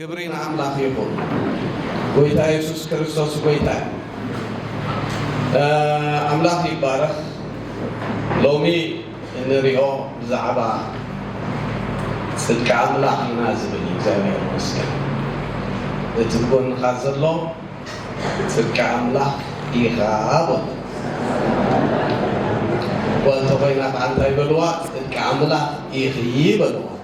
ክብሪ ንኣምላኽ ይኹን ጎይታ የሱስ ክርስቶስ ጎይታ እዩ ኣምላኽ ይባረኽ ሎሚ እንሪኦ ብዛዕባ ጽድቂ ኣምላኽ ኢና ዝብል እዩ እግዚኣብሔር ይመስገን እቲ ጎንኻ ዘሎ ጽድቂ ኣምላኽ ኢኻ በሎ ጓል ተኾይና ከዓ እንታይ በልዋ ጽድቂ ኣምላኽ ኢኺ በልዋ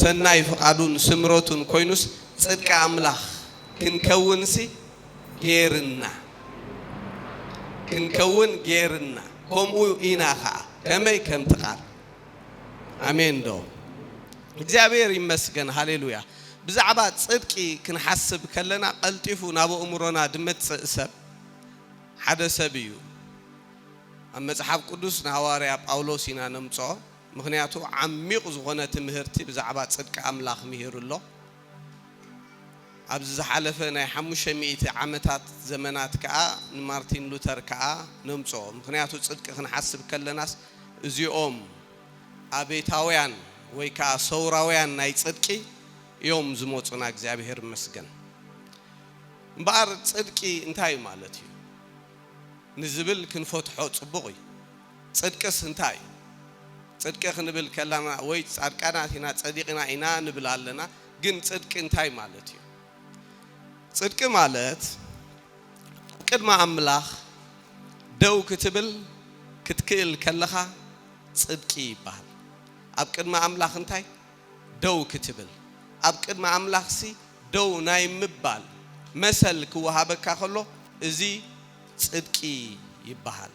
ሰናይ ፍቓዱን ስምረቱን ኮይኑስ ጽድቂ ኣምላኽ ክንከውንሲ ገይርና ክንከውን ገይርና ከምኡ ኢና ኸኣ ከመይ ከምቲ ቃል ኣሜን ዶ እግዚኣብሔር ይመስገን ሃሌሉያ ብዛዕባ ጽድቂ ክንሓስብ ከለና ቀልጢፉ ናብ ኣእምሮና ድመጽእ ሰብ ሓደ ሰብ እዩ ኣብ መጽሓፍ ቅዱስ ንሃዋርያ ጳውሎስ ኢና ነምጽኦ ምኽንያቱ ዓሚቝ ዝኾነ ትምህርቲ ብዛዕባ ጽድቂ ኣምላኽ ምሂሩ ኣሎ። ኣብዚ ዝሓለፈ ናይ ሓሙሽተ ሚእቲ ዓመታት ዘመናት ከኣ ንማርቲን ሉተር ከኣ ነምጽኦ። ምኽንያቱ ጽድቂ ክንሓስብ ከለናስ እዚኦም ኣቤታውያን ወይ ከኣ ሰውራውያን ናይ ጽድቂ እዮም ዝመጹና እግዚኣብሔር ይመስገን። እምበኣር ጽድቂ እንታይ እዩ ማለት እዩ ንዝብል ክንፈትሖ ጽቡቕ እዩ። ጽድቅስ እንታይ እዩ? ጽድቂ ክንብል ከላና ወይ ጻድቃናት ኢና ጸዲቅና ኢና ንብል ኣለና ግን ጽድቂ እንታይ ማለት እዩ? ጽድቂ ማለት ኣብ ቅድሚ ኣምላኽ ደው ክትብል ክትክእል ከለኻ ጽድቂ ይብሃል። ኣብ ቅድሚ ኣምላኽ እንታይ ደው ክትብል ኣብ ቅድሚ ኣምላኽሲ ደው ናይ ምባል መሰል ክወሃበካ ከሎ እዚ ጽድቂ ይብሃል።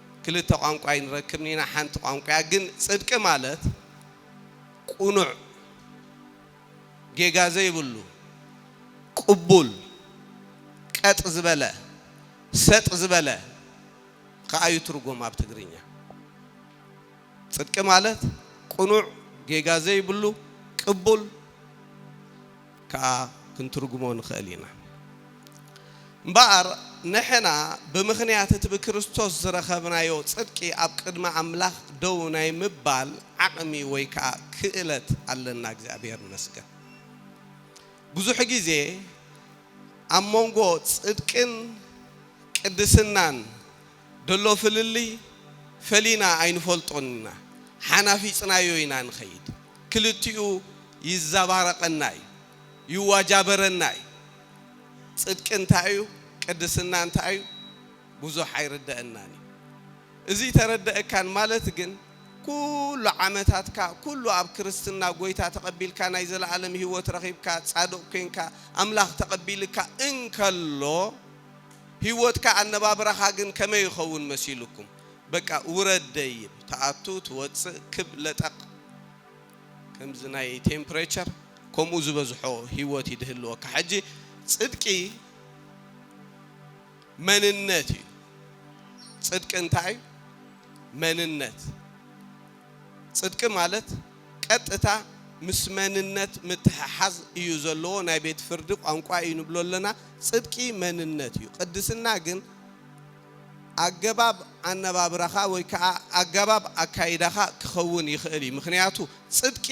ክልተ ቋንቋ ኣይንረክብን ኢና ሓንቲ ቋንቋያ ግን ጽድቂ ማለት ቁኑዕ ጌጋ ዘይብሉ ቁቡል ቀጥ ዝበለ ሰጥ ዝበለ ኸኣ እዩ ትርጉም ኣብ ትግርኛ ጽድቂ ማለት ቁኑዕ ጌጋ ዘይብሉ ቅቡል ከኣ ክንትርጉሞ ንኸእል ኢና። እምበኣር ንሕና ብምኽንያት እቲ ብክርስቶስ ዝረኸብናዮ ጽድቂ ኣብ ቅድሚ ኣምላኽ ደው ናይ ምባል ዓቕሚ ወይ ከኣ ክእለት ኣለና። እግዚኣብሔር ይመስገን። ብዙሕ ጊዜ ኣብ መንጎ ጽድቅን ቅድስናን ደሎ ፍልልይ ፈሊና ኣይንፈልጦን ኢና ሓናፊጽናዮ ኢና ንኸይድ ክልቲኡ ይዛባረቀና እዩ ይዋጃበረና እዩ ጽድቂ እንታይ እዩ ቅድስና እንታይ እዩ ብዙሕ ኣይርደእናን እዩ እዚ ተረደእካን ማለት ግን ኩሉ ዓመታትካ ኩሉ ኣብ ክርስትና ጎይታ ተቀቢልካ ናይ ዘለኣለም ሂወት ረኺብካ ጻድቅ ኮንካ ኣምላኽ ተቀቢልካ እንከሎ ሂወትካ ኣነባብራኻ ግን ከመይ ይኸውን መሲሉኩም በቃ ውረድ ደይብ ትኣቱ ትወጽእ ክብ ለጠቅ ከምዚ ናይ ቴምፕሬቸር ከምኡ ዝበዝሖ ሂወት እዩ ድህልወካ ሕጂ ጽድቂ መንነት እዩ ጽድቂ እንታይ እዩ መንነት ጽድቂ ማለት ቀጥታ ምስ መንነት ምትሕሓዝ እዩ ዘለዎ ናይ ቤት ፍርዲ ቋንቋ እዩ ንብሎ ኣለና ጽድቂ መንነት እዩ ቅድስና ግን ኣገባብ ኣነባብራኻ ወይ ከኣ ኣጋባብ ኣካይዳኻ ክኸውን ይኽእል እዩ ምኽንያቱ ጽድቂ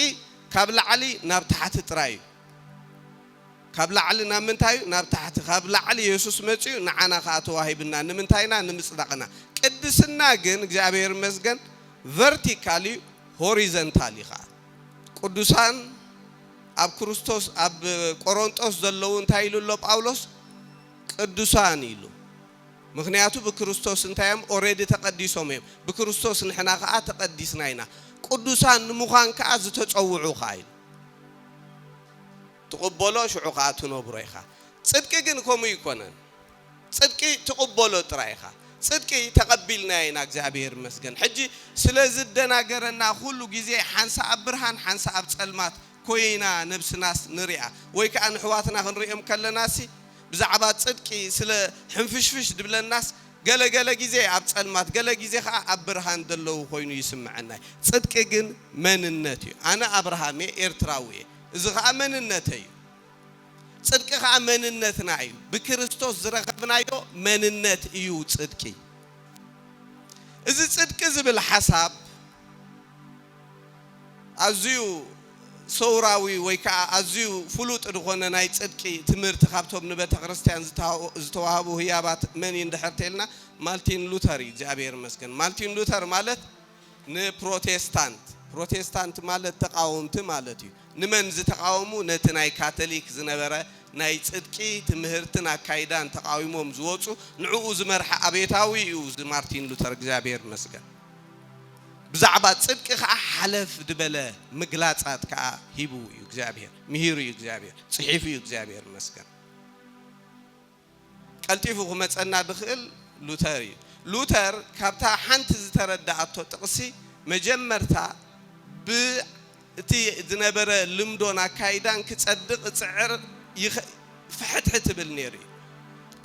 ካብ ላዕሊ ናብ ታሕቲ ጥራይ እዩ። ካብ ላዕሊ ናብ ምንታይ እዩ? ናብ ታሕቲ። ካብ ላዕሊ የሱስ መጺኡ ንዓና ከኣ ተዋሂብና። ንምንታይ ኢና? ንምጽዳቕና። ቅድስና ግን እግዚኣብሔር ይመስገን ቨርቲካል እዩ ሆሪዘንታል እዩ ከኣ። ቅዱሳን ኣብ ክርስቶስ ኣብ ቆሮንጦስ ዘለዉ እንታይ ኢሉ ኣሎ ጳውሎስ? ቅዱሳን ኢሉ። ምክንያቱ ብክርስቶስ እንታይ እዮም? ኦረዲ ተቐዲሶም እዮም። ብክርስቶስ ንሕና ከኣ ተቐዲስና ኢና። ቅዱሳን ንምዃን ከኣ ዝተጸውዑ ከኣ ኢሉ። ትቕበሎ ሽዑ ኸኣ ትነብሮ ኢኻ። ጽድቂ ግን ከምኡ ኣይኮነን። ጽድቂ ትቕበሎ ጥራይ ኢኻ። ጽድቂ ተቐቢልናዮ ኢና እግዚኣብሄር ይመስገን። ሕጂ ስለ ዝደናገረና ኩሉ ግዜ ሓንሳእ ኣብ ብርሃን ሓንሳእ ኣብ ጸልማት ኮይና ነብስናስ ንርኣ። ወይ ከኣ ንሕዋትና ክንርእዮም ከለናሲ ብዛዕባ ጽድቂ ስለ ሕንፍሽፍሽ ድብለናስ ገለ ገለ ግዜ ኣብ ጸልማት ገለ ግዜ ከኣ ኣብ ብርሃን ደለዉ ኮይኑ ይስመዐና እዩ ጽድቂ ግን መንነት እዩ ኣነ ኣብርሃም እየ ኤርትራዊ እየ እዚ ከኣ መንነተይ እዩ ጽድቂ ከኣ መንነትና እዩ ብክርስቶስ ዝረከብናዮ መንነት እዩ ጽድቂ እዚ ጽድቂ ዝብል ሓሳብ ኣዝዩ ሰውራዊ ወይ ከኣ ኣዝዩ ፍሉጥ ዝኾነ ናይ ጽድቂ ትምህርቲ ካብቶም ንቤተክርስትያን ዝተዋህቡ ህያባት መን እዩ እንድሕር ተይልና ማልቲን ሉተር እዩ እግዚኣብሔር ይመስገን ማልቲን ሉተር ማለት ንፕሮቴስታንት ፕሮቴስታንት ማለት ተቃወምቲ ማለት እዩ ንመን ዝተቃወሙ ነቲ ናይ ካተሊክ ዝነበረ ናይ ጽድቂ ትምህርትን ኣካይዳን ተቃዊሞም ዝወጹ ንዕኡ ዝመርሐ ኣብዮታዊ እዩ እዚ ማርቲን ሉተር እግዚኣብሔር ይመስገን ብዛዕባ ጽድቂ ከኣ ሓለፍ ድበለ ምግላጻት ከኣ ሂቡ እዩ እግዚኣብሄር ምሂሩ እዩ እግዚኣብሄር ጽሒፉ እዩ እግዚኣብሄር ይመስገን። ቀልጢፉ ክመጸና ድኽእል ሉተር እዩ። ሉተር ካብታ ሓንቲ ዝተረድኣቶ ጥቕሲ መጀመርታ ብ እቲ ዝነበረ ልምዶን ኣካይዳን ክጸድቕ እጽዕር ይኸ ፍሕትሕት እብል ነይሩ እዩ።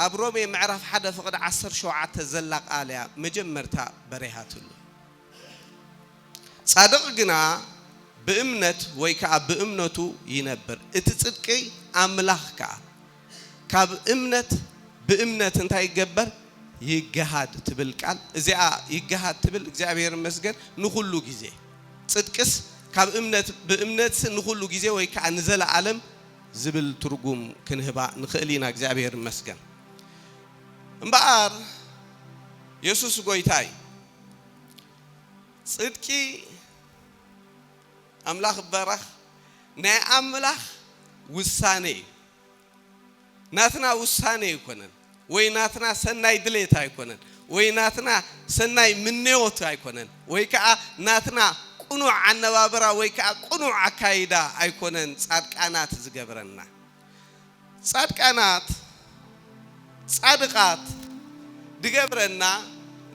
ኣብ ሮሜ ምዕራፍ ሓደ ፍቕዲ ዓሰርተ ሸውዓተ ዘላ ቃል እያ መጀመርታ በሪሃትሉ። ጻድቕ ግና ብእምነት ወይ ከኣ ብእምነቱ ይነብር፣ እቲ ጽድቂ ኣምላኽ ከኣ። ካብ እምነት ብእምነት እንታይ ይገበር ይገሃድ ትብል ቃል እዚኣ ይገሃድ ትብል እግዚኣብሔር ይመስገን ንኹሉ ግዜ ጽድቅስ ካብ እምነት ብእምነትስ ንኹሉ ግዜ ወይ ከዓ ንዘለዓለም ዝብል ትርጉም ክንህባ ንኽእል ኢና እግዚኣብሔር ይመስገን እምበኣር የሱስ ጎይታ እዩ ጽድቂ ኣምላኽ ይባረኽ ናይ ኣምላኽ ውሳነ እዩ ናትና ውሳነ ኣይኮነን ወይ ናትና ሰናይ ድሌት ኣይኮነን ወይ ናትና ሰናይ ምንዮት ኣይኮነን ወይ ከዓ ናትና ቅኑዕ ኣነባብራ ወይ ከዓ ቅኑዕ ኣካይዳ ኣይኮነን ፃድቃናት ዝገብረና ጻድቃናት፣ ጻድቓት፣ ድገብረና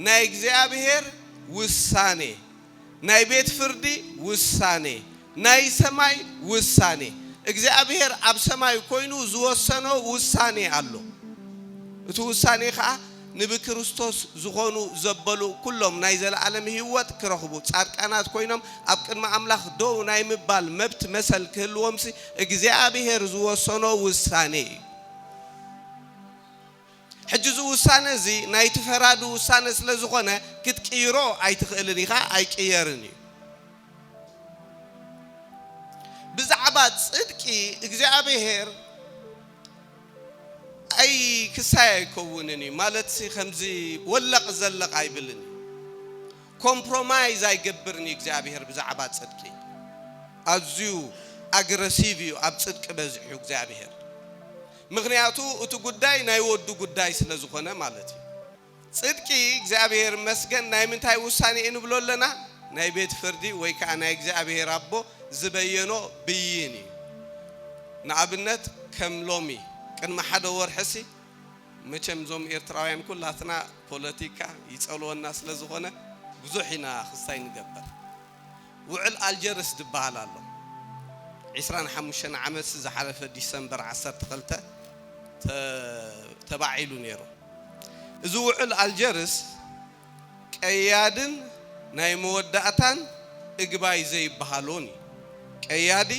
ናይ እግዚኣብሔር ውሳኔ፣ ናይ ቤት ፍርዲ ውሳኔ፣ ናይ ሰማይ ውሳኔ፣ እግዚኣብሔር ኣብ ሰማይ ኮይኑ ዝወሰኖ ውሳኔ ኣሎ። እቲ ውሳኔ ከኣ ንብክርስቶስ ዝኾኑ ዘበሉ ኩሎም ናይ ዘለኣለም ህይወት ክረኽቡ ጻድቃናት ኮይኖም ኣብ ቅድሚ ኣምላኽ ደው ናይ ምባል መብት መሰል ክህልዎምሲ እግዚኣብሔር ዝወሰኖ ውሳኔ እዩ። ሕጂ እዚ ውሳነ እዚ ናይቲ ፈራዲ ውሳነ ስለ ዝኾነ ክትቅይሮ ኣይትኽእልን ኢኻ ኣይቅየርን እዩ። ብዛዕባ ጽድቂ እግዚኣብሔር ኣይ ክሳይ ኣይከውንን እዩ ማለትሲ ከምዚ ወለቅ ዘለቅ ኣይብልን እዩ ኮምፕሮማይዝ ኣይገብርን እዩ እግዚኣብሄር ብዛዕባ ጽድቂ ኣዝዩ ኣግረሲቭ እዩ ኣብ ጽድቂ በዚሑ እግዚኣብሄር ምኽንያቱ እቲ ጉዳይ ናይ ወዱ ጉዳይ ስለ ዝኾነ ማለት እዩ። ጽድቂ እግዚኣብሔር ይመስገን ናይ ምንታይ ውሳኔ እዩ ንብሎ ኣለና ናይ ቤት ፍርዲ ወይ ከኣ ናይ እግዚኣብሔር ኣቦ ዝበየኖ ብይን እዩ ንኣብነት ከም ሎሚ ቅድሚ ሓደ ወርሕሲ መቸም እዞም ኤርትራውያን ኩላትና ፖለቲካ ይጸልወና ስለ ዝኾነ ብዙሕ ኢና ክስታይ ንገብር ውዕል ኣልጀርስ ድበሃል ኣሎ ዕስራን ሓሙሽተን ዓመትሲ ዝሓለፈ ዲሰምበር ዓሰርተ ክልተ ተባዒሉ ነይሩ እዚ ውዕል ኣልጀርስ ቀያድን ናይ መወዳእታን እግባይ ዘይበሃሎን እዩ ቀያዲ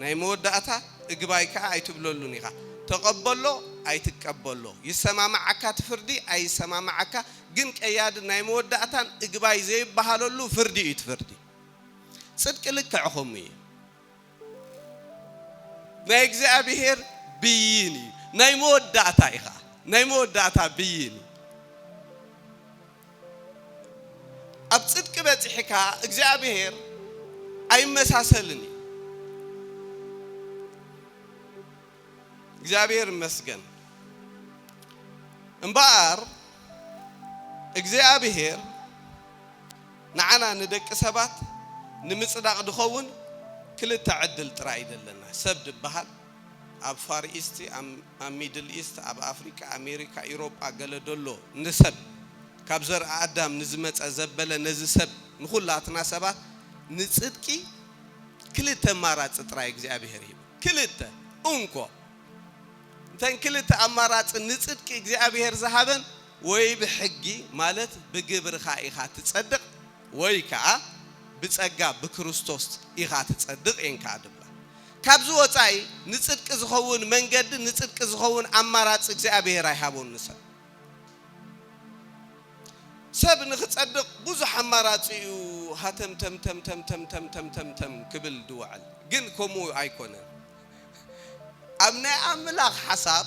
ናይ መወዳእታ እግባይ ከኣ ኣይትብለሉን ኢኻ ተቐበሎ ኣይትቀበሎ ይሰማማዓካ ትፍርዲ ኣይሰማማዓካ ግን ቀያድን ናይ መወዳእታን እግባይ ዘይበሃለሉ ፍርዲ እዩ እቲ ፍርዲ ጽድቂ ልክዕ ከምኡ እዩ ናይ እግዚኣብሔር ብይን እዩ ናይ መወዳእታ እዩ ኸዓ ናይ መወዳእታ ብይን እዩ ኣብ ጽድቂ በጺሕካ እግዚኣብሔር ኣይመሳሰልን እዩ እግዚኣብሔር ይመስገን እምበኣር እግዚኣብሔር ንዓና ንደቂ ሰባት ንምጽዳቕ ድኸውን ክልተ ዕድል ጥራይ እዩ ዘለና ሰብ ድበሃል ኣብ ፋር ኢስት ኣብ ሚድል ኢስት ኣብ ኣፍሪካ ኣሜሪካ ኢሮጳ ገለ ደሎ ንሰብ ካብ ዘርኢ ኣዳም ንዝመፀ ዘበለ ነዚ ሰብ ንኹላትና ሰባት ንጽድቂ ክልተ ማራፂ ጥራይ እግዚኣብሔር እዩ ክልተ፣ እንኮ፣ እተን ክልተ ኣማራጺ ንጽድቂ እግዚኣብሔር ዝሃበን ወይ ብሕጊ ማለት ብግብርኻ ኢኻ ትጸድቕ ወይ ከኣ ብጸጋ ብክርስቶስ ኢኻ ትጸድቕ እየን ከኣ ድብላ። ካብዚ ወጻኢ ንጽድቂ ዝኸውን መንገዲ ንጽድቂ ዝኸውን ኣማራጺ እግዚኣብሔር ኣይሃቦን ንሰብ። ሰብ ንኽጸድቕ ብዙሕ ኣማራጺ'ዩ ሃተምተምተምተምተምተምተምተም ክብል ዝውዕል፣ ግን ከምኡ ኣይኰነን። ኣብ ናይ ኣምላኽ ሓሳብ፣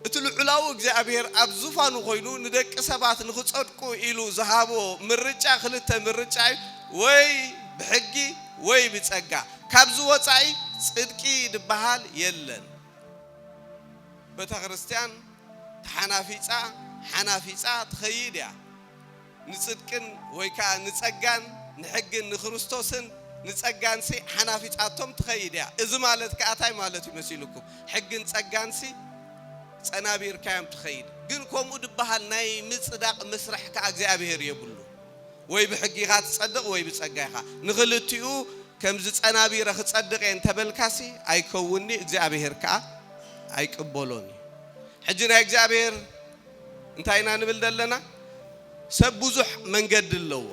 እቲ ልዑላዊ እግዚኣብሄር ኣብ ዙፋኑ ኰይኑ ንደቂ ሰባት ንኽጸድቁ ኢሉ ዝሃቦ ምርጫ ክልተ ምርጫ'ዩ፣ ወይ ብሕጊ ወይ ብጸጋ። ካብዚ ወጻኢ ጽድቂ ዝበሃል የለን። ቤተክርስትያን ተሓናፊጻ ሓናፊጻ ትኸይድ እያ። ንጽድቅን ወይ ከኣ ንጸጋን ንሕግን ንክርስቶስን ንጸጋንሲ ሓናፊጻቶም ትኸይድ እያ። እዚ ማለት ከኣ ታይ ማለት እዩ መሲሉኩም? ሕግን ጸጋንሲ ጸናቢርካዮም ትኸይድ። ግን ከምኡ ድበሃል ናይ ምጽዳቕ መስርሕ ከኣ እግዚኣብሔር የብሉን። ወይ ብሕጊ ኢኻ ትጸድቕ ወይ ብጸጋ ኢኻ፣ ንኽልቲኡ ከምዚ ጸናቢረ ክጸድቕ እየ እንተ በልካሲ ኣይከውንን እዩ፣ እግዚኣብሄር ከኣ ኣይቅበሎን እዩ። ሕጂ ናይ እግዚኣብሄር እንታይ ኢና ንብል ዘለና? ሰብ ብዙሕ መንገዲ ኣለዎ፣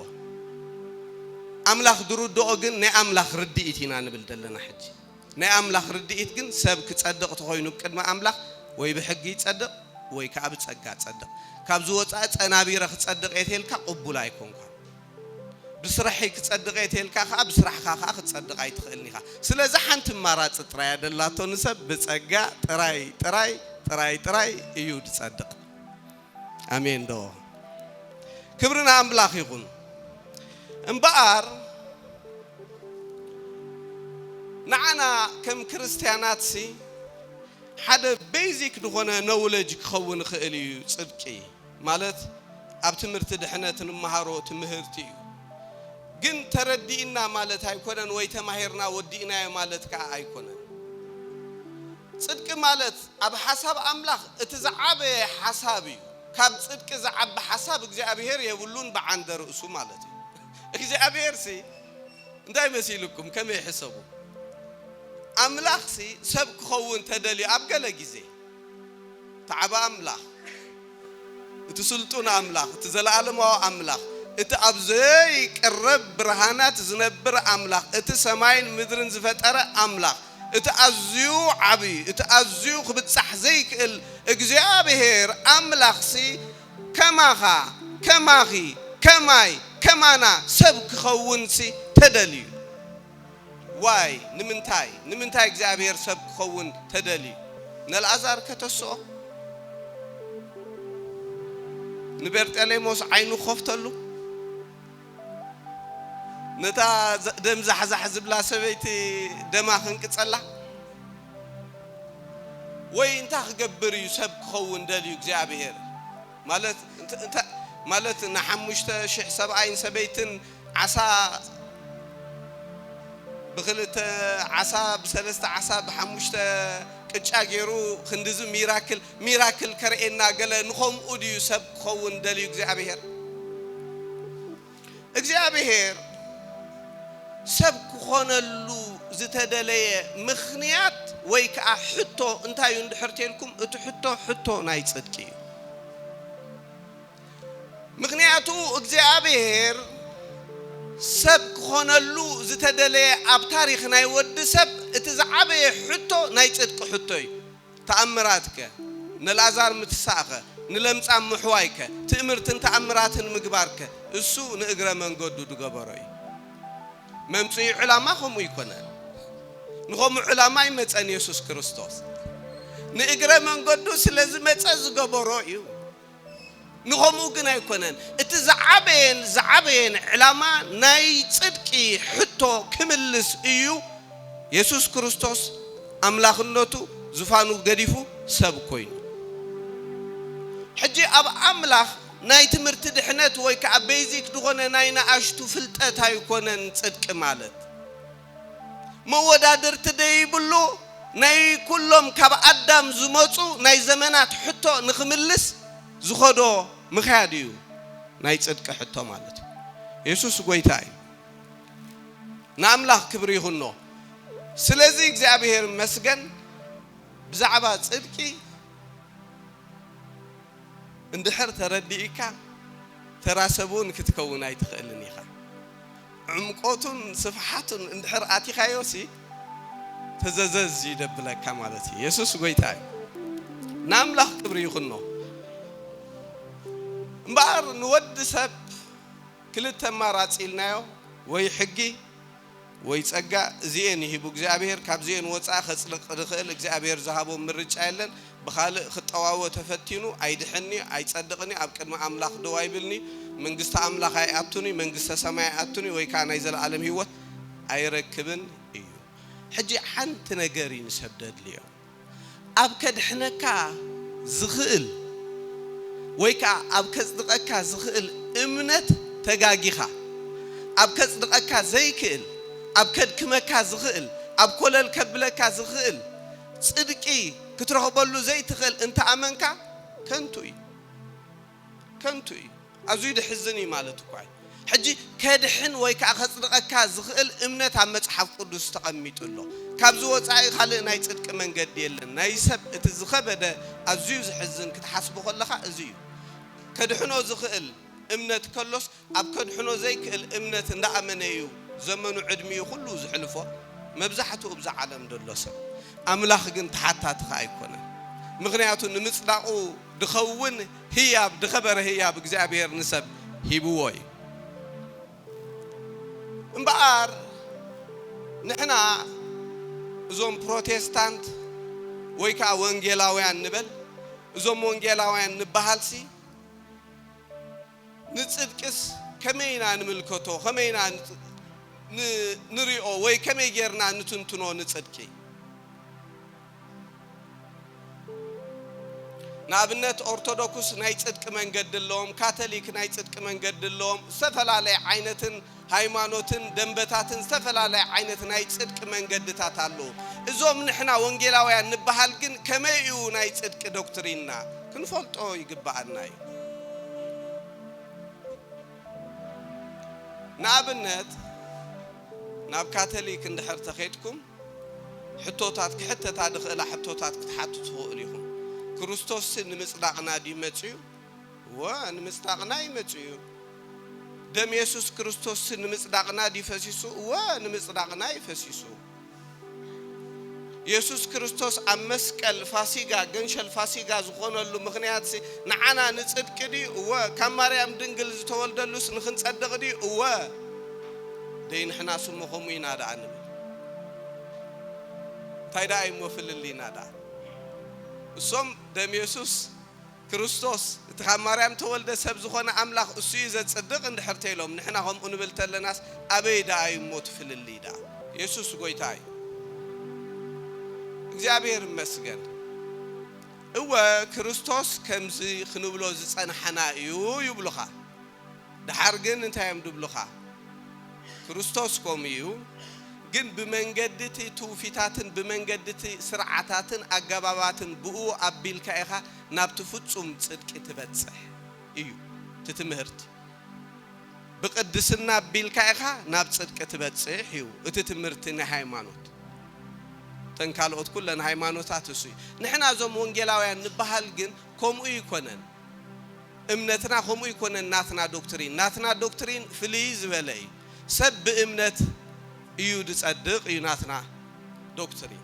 ኣምላኽ ዝርድኦ ግን ናይ ኣምላኽ ርድኢት ኢና ንብል ዘለና ሕጂ። ናይ ኣምላኽ ርድኢት ግን ሰብ ክጸድቕ ተኾይኑ ቅድሚ ኣምላኽ ወይ ብሕጊ ይጸድቕ ወይ ከኣ ብጸጋ ጸድቕ ካብዚ ወጻኢ ጸናቢረ ክጸድቕ እየ ተልካ ቅቡል ኣይኮንኳን ብስራሕይ ክጸድቕ እየ ተልካ ከኣ ብስራሕኻ ከኣ ክትጸድቕ ኣይትኽእልን ኢኻ ስለዚ ሓንቲ ኣማራጺ ጥራይ እያ ደላቶ ንሰብ ብጸጋ ጥራይ ጥራይ ጥራይ ጥራይ እዩ ድጸድቕ። ኣሜን ዶ ክብሪ ንኣምላኽ ይኹን እምበኣር ንዓና ከም ክርስትያናትሲ ሓደ ቤዚክ ዝኾነ ነውለጅ ክኸውን ይኽእል እዩ ጽድቂ ማለት ኣብ ትምህርቲ ድሕነት ንመሃሮ ትምህርቲ እዩ ግን ተረዲእና ማለት ኣይኮነን ወይ ተማሂርና ወዲእናዮ ማለት ከዓ ኣይኮነን ጽድቂ ማለት ኣብ ሓሳብ ኣምላኽ እቲ ዝዓበየ ሓሳብ እዩ። ካብ ጽድቂ ዝዓቢ ሓሳብ እግዚኣብሄር የብሉን ብዓንደ ርእሱ ማለት እዩ። እግዚኣብሄርሲ እንታይ መሲሉኩም ከመይ ሕሰቡ። ኣምላኽሲ ሰብ ክኸውን ተደልዩ ኣብ ገለ ግዜ። ተዓብ ኣምላኽ። እቲ ስልጡን ኣምላኽ፣ እቲ ዘለኣለማዊ ኣምላኽ፣ እቲ ኣብ ዘይቅረብ ብርሃናት ዝነብር ኣምላኽ፣ እቲ ሰማይን ምድርን ዝፈጠረ ኣምላኽ፣ እቲ ኣዝዩ ዓቢ፣ እቲ ኣዝዩ ክብጻሕ ዘይክእል እግዚኣብሄር ኣምላኽሲ ከማኻ፣ ከማኺ፣ ከማይ፣ ከማና ሰብ ክኸውንሲ ተደልዩ። ዋይ ንምንታይ ንምንታይ እግዚኣብሔር ሰብ ክኸውን ተደልዩ ነልኣዛር ከተስኦ ንበርጠሌሞስ ዓይኑ ክኸፍተሉ ነታ ደም ዛሕዛሕ ዝብላ ሰበይቲ ደማ ክንቅጸላ ወይ እንታይ ክገብር እዩ ሰብ ክኸውን ደልዩ እግዚኣብሔር ማለት ማለት ንሓሙሽተ ሽሕ ሰብኣይን ሰበይትን ዓሳ ብክልተ ዓሳ ብሰለስተ ዓሳ ብሓሙሽተ ቅጫ ጌሩ ክንድዚ ሚራክል ሚራክል ከርእየና ገለ ንኸምኡ ድዩ ሰብ ክኸውን ደልዩ እግዚኣብሄር እግዚኣብሄር ሰብ ክኾነሉ ዝተደለየ ምኽንያት ወይ ከዓ ሕቶ እንታይ እዩ እንድሕር ተልኩም እቲ ሕቶ ሕቶ ናይ ፅድቂ እዩ ምኽንያቱ እግዚኣብሔር ሰብ ክኾነሉ ዝተደለየ ኣብ ታሪኽ ናይ ወዲ ሰብ እቲ ዝዓበየ ሕቶ ናይ ጽድቂ ሕቶ እዩ። ተኣምራትከ? ንላዛር ምትሳእከ? ንለምጻም ምሕዋይከ? ትእምርትን ተኣምራትን ምግባርከ? እሱ ንእግረ መንገዱ ድገበሮ እዩ። መምጽኢ ዕላማ ከምኡ ኣይኮነን። ንኸምኡ ዕላማ ኣይመጸን የሱስ ክርስቶስ። ንእግረ መንገዱ ስለ ዝመጸ ዝገበሮ እዩ። ንኸምኡ ግን ኣይኮነን። እቲ ዝዓበየን ዝዓበየን ዕላማ ናይ ጽድቂ ሕቶ ክምልስ እዩ፣ የሱስ ክርስቶስ ኣምላኽነቱ ዙፋኑ ገዲፉ ሰብ ኮይኑ። ሕጂ ኣብ ኣምላኽ ናይ ትምህርቲ ድሕነት ወይ ከኣ በይዚክ ዝኾነ ናይ ንኣሽቱ ፍልጠት ኣይኮነን ጽድቂ ማለት። መወዳድርቲ ደይብሉ ናይ ኩሎም ካብ ኣዳም ዝመጹ ናይ ዘመናት ሕቶ ንኽምልስ ዝኸዶ ምኽያድ እዩ ናይ ጽድቂ ሕቶ ማለት እዩ የሱስ ጎይታ እዩ ንኣምላኽ ክብሪ ይኹኖ ስለዚ እግዚኣብሔር ይመስገን ብዛዕባ ጽድቂ እንድሕር ተረዲኢካ ተራ ሰብ'ውን ክትከውን ኣይትኽእልን ኢኻ። ዕምቆቱን ስፍሓቱን እንድሕር ኣቲኻዮሲ ተዘዘዝ እዩ ደብለካ ማለት እዩ። የሱስ ጎይታ እዩ። ንኣምላኽ ክብሪ ይኹኖ። እምበኣር ንወዲ ሰብ ክልተ ኣማራጺ ኢልናዮ ወይ ሕጊ ወይ ጸጋ እዚኤን እዩ ሂቡ እግዚኣብሄር ካብዚኤን ወጻኢ ከጽድቅ ዝክእል እግዚኣብሄር ዝሃቦ ምርጫ የለን ብካልእ ክጠዋወ ተፈቲኑ ኣይድሕን እዩ ኣይጸድቅን እዩ ኣብ ቅድሚ ኣምላክ ደው ኣይብልን እዩ መንግስቲ ኣምላክ ኣይኣቱን እዩ መንግስተ ሰማይ ኣይኣቱን እዩ ወይ ከኣ ናይ ዘለኣለም ሂወት ኣይረክብን እዩ ሕጂ ሓንቲ ነገር እዩ ንሰብ ደድልዮ ኣብ ከድሕነካ ዝኽእል ወይ ከኣ ኣብ ከጽድቐካ ዝኽእል እምነት ተጋጊኻ። ኣብ ከጽድቐካ ዘይክእል፣ ኣብ ከድክመካ ዝኽእል፣ ኣብ ኮለል ከብለካ ዝኽእል ጽድቂ ክትረኽበሉ ዘይትኽእል እንተ ኣመንካ ከንቱ እዩ። ከንቱ እዩ ኣዙይ ድሕዝን እዩ ማለት እኳ እዩ ሕጂ ከድሕን ወይ ከኣ ከጽድቐካ ዝኽእል እምነት ኣብ መጽሓፍ ቅዱስ ተቐሚጡ ኣሎ ካብዚ ወጻኢ ካልእ ናይ ጽድቂ መንገዲ የለን ናይ ሰብ እቲ ዝኸበደ ኣዙዩ ዝሕዝን ክትሓስቦ ከለኻ እዙይ እዩ ከድሕኖ ዝኽእል እምነት ከሎስ ኣብ ከድሕኖ ዘይክእል እምነት እንዳ ኣመነ እዩ ዘመኑ ዕድሚኡ ኩሉ ዝሕልፎ መብዛሕትኡ እብዛ ዓለም ደሎ ሰብ ኣምላኽ ግን ተሓታቲ ከኣ ኣይኮነን ምኽንያቱ ንምጽዳቑ ድኸውን ህያብ ድኸበረ ህያብ እግዚኣብሔር ንሰብ ሂብዎ እዩ እምበኣር ንሕና እዞም ፕሮቴስታንት ወይ ከኣ ወንጌላውያን ንበል እዞም ወንጌላውያን ንበሃልሲ ንጽድቅስ ከመይ ኢና ንምልከቶ፣ ከመይ ኢና ንርእዮ ወይ ከመይ ጌርና ንትንትኖ ንጽድቂ? ንኣብነት ኦርቶዶክስ ናይ ጽድቂ መንገዲ ኣለዎም፣ ካተሊክ ናይ ጽድቂ መንገዲ ኣለዎም፣ ዝተፈላለየ ዓይነትን፣ ሃይማኖትን ደምበታትን ዝተፈላለየ ዓይነት ናይ ጽድቂ መንገድታት ኣሎ። እዞም ንሕና ወንጌላውያን ንበሃል ግን ከመይ እዩ ናይ ጽድቂ ዶክትሪንና? ክንፈልጦ ይግበኣና እዩ። ንኣብነት ናብ ካተሊክ እንድሕር ተኼድኩም ሕቶታት ክሕተታ ድኽእላ ሕቶታት ክትሓቱ ትኽእሉ ኢኹም። ክርስቶስሲ ንምጽዳቕና ድዩ መጺኡ? እወ፣ ንምጽዳቕና እዩ መጺኡ። ደም የሱስ ክርስቶስ ንምጽዳቕና ድዩ ፈሲሱ? እወ፣ ንምጽዳቕና እዩ ፈሲሱ። የሱስ ክርስቶስ ኣብ መስቀል ፋሲጋ፣ ገንሸል ፋሲጋ ዝኾነሉ ምኽንያትሲ ንዓና ንጽድቂ ድዩ? እወ። ካብ ማርያም ድንግል ዝተወልደሉስ ንኽንጸድቕ ድዩ? እወ። ደይ ንሕናስ እሞ ከምኡ ኢና ደኣ ንብል። እንታይ ደኣ እዩ እሞ ፍልልይና ደኣ? እሶም ደም የሱስ ክርስቶስ፣ እቲ ካብ ማርያም እተወልደ ሰብ ዝዀነ ኣምላኽ እሱ እዩ ዘጽድቕ እንድሕር ተይሎም፣ ንሕና ከምኡ ንብል ተለናስ ኣበይ ደኣ እዩ እሞ እቲ ፍልልይ ደኣ? የሱስ ጐይታ እዩ። እግዚኣብሔር ይመስገን። እወ፣ ክርስቶስ ከምዚ ክንብሎ ዝጸናሕና እዩ ይብሉኻ። ደሓር ግን እንታይ እዮም ድብሉኻ? ክርስቶስ ከምኡ እዩ፣ ግን ብመንገዲ እቲ ትውፊታትን ብመንገዲ እቲ ስርዓታትን ኣገባባትን ብእኡ ኣቢልካ ኢኻ ናብቲ ፍጹም ጽድቂ ትበጽሕ እዩ እቲ ትምህርቲ። ብቅድስና ኣቢልካ ኢኻ ናብ ጽድቂ ትበጽሕ እዩ እቲ ትምህርቲ ናይ ሃይማኖት። እተን ካልኦት ኩለን ሃይማኖታት እሱ እዩ። ንሕና እዞም ወንጌላውያን ንበሃል ግን ከምኡ ኣይኮነን። እምነትና ከምኡ ኣይኮነን ናትና ዶክትሪን ናትና ዶክትሪን ፍልይ ዝበለ እዩ ሰብ ብእምነት እዩ ዝጸድቅ እዩ ናትና ዶክትሪን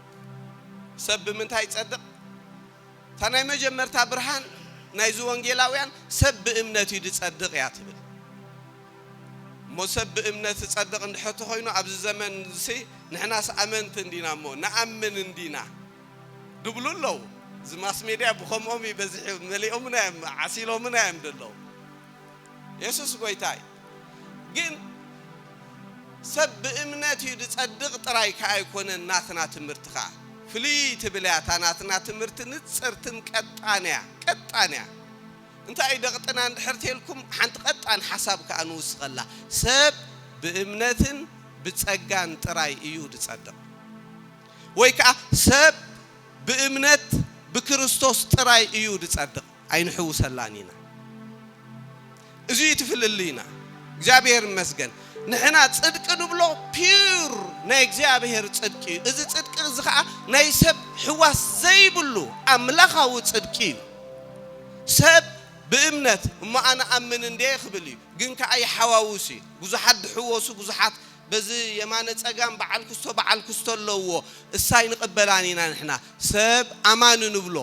ሰብ ብምንታይ ይጸድቅ እታ ናይ መጀመርታ ብርሃን ናይዚ ወንጌላውያን ሰብ ብእምነት እዩ ዝጸድቅ እያ ትብል እሞ ሰብ ብእምነት ዝጸድቅ እንድሕር ተኮይኑ ኣብዚ ዘመን ንሕናስ ኣመንቲ እንዲና እሞ ንኣምን እንዲና ድብሉ ኣለው እዚ ማስሜድያ ብከምኦም እዩ በዚሑ መሊኦምና እዮም ዓሲሎምና እዮም ደለው የሱስ ጎይታ እዩ ግን ሰብ ብእምነት እዩ ዝጸድቕ ጥራይ ከኣ ኣይኮነን ናትና ትምህርቲ ከኣ ፍልይ ትብል እያ እታ ናትና ትምህርቲ ንጽርትን ቀጣን እያ ቀጣን እያ እንታይ እዩ ደቕጥና እንድሕር ተልኩም ሓንቲ ቀጣን ሓሳብ ከኣ ንውስኸላ ሰብ ብእምነትን ብጸጋን ጥራይ እዩ ዝጸድቕ ወይ ከኣ ሰብ ብእምነት ብክርስቶስ ጥራይ እዩ ዝጸድቕ ኣይንሕውሰላን ኢና እዚ እዩ እቲ ፍልልይና እግዚኣብሔር ይመስገን ንሕና ጽድቂ ንብሎ ፒዩር ናይ እግዚኣብሔር ጽድቂ እዩ እዚ ጽድቂ እዚ ከኣ ናይ ሰብ ሕዋስ ዘይብሉ ኣምላኻዊ ጽድቂ እዩ ሰብ ብእምነት እሞ ኣነ ኣምን እንዴ ክብል እዩ ግን ከኣ ይሓዋውስ እዩ ብዙሓት ድሕወሱ ብዙሓት በዚ የማነ ጸጋም በዓል ኩስቶ በዓል ኩስቶ ኣለውዎ እሳ ኣይንቅበላን ኢና ንሕና ሰብ ኣማኒ ንብሎ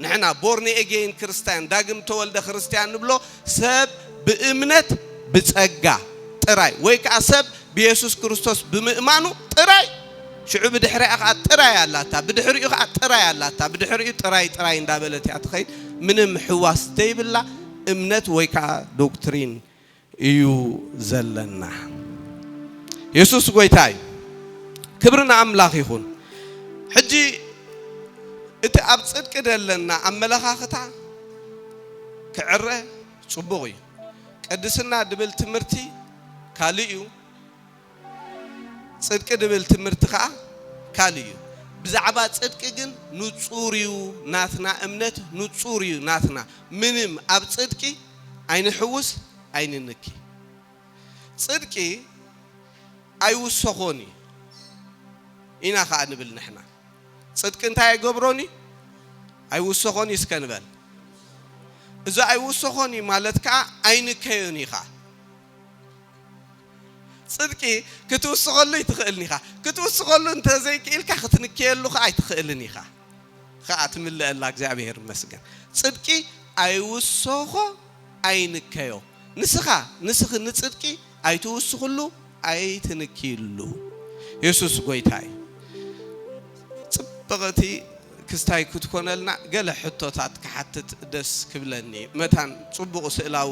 ንሕና ቦርኒ ኤጌይን ክርስታያን ዳግም ተወልደ ክርስትያን ንብሎ ሰብ ብእምነት ብጸጋ ጥራይ ወይ ከኣ ሰብ ብየሱስ ክርስቶስ ብምእማኑ ጥራይ ሽዑ ብድሕሪኣ ከኣ ጥራይ ኣላታ ብድሕሪኡ ከኣ ጥራይ ኣላታ ብድሕሪኡ ጥራይ ጥራይ እንዳበለት እያ ትኸይድ ምንም ሕዋስ ዘይብላ እምነት ወይ ከኣ ዶክትሪን እዩ ዘለና የሱስ ጎይታ እዩ ክብሪ ንኣምላኽ ይኹን ሕጂ እቲ ኣብ ጽድቂ ዘለና ኣመለኻኽታ ክዕረ ጽቡቕ እዩ ቅድስና ድብል ትምህርቲ ካልእ እዩ ጽድቂ ድብል ትምህርቲ ከኣ ካልእ እዩ ብዛዕባ ጽድቂ ግን ንጹር እዩ ናትና እምነት ንጹር እዩ ናትና ምንም ኣብ ጽድቂ ኣይንሕውስ ኣይንንኪ ጽድቂ ኣይውሰኾን እዩ ኢና ከኣ ንብል ንሕና ጽድቂ እንታይ ኣይገብሮን እዩ ኣይውሰኾን እዩ እስከ ንበል እዚ ኣይውሰኾን እዩ ማለት ከኣ ኣይንከዮን እዩ ከኣ ጽድቂ ክትውስኸሉ ኣይትኽእልን ኢኻ፣ ክትውስኸሉ እንተ ዘይክኢልካ ክትንክየሉ ኸኣ ኣይትኽእልን ኢኻ። ኸኣ ትምለኣላ እግዚኣብሄር ይመስገን። ጽድቂ ኣይውሰኾ ኣይንከዮ። ንስኻ ንስኺ ንጽድቂ ኣይትውስኽሉ ኣይትንክይሉ። የሱስ ጎይታ እዩ። ጽብቕቲ ክስታይ ክትኮነልና ገለ ሕቶታት ክሓትት ደስ ክብለኒ መታን ጽቡቕ ስእላዊ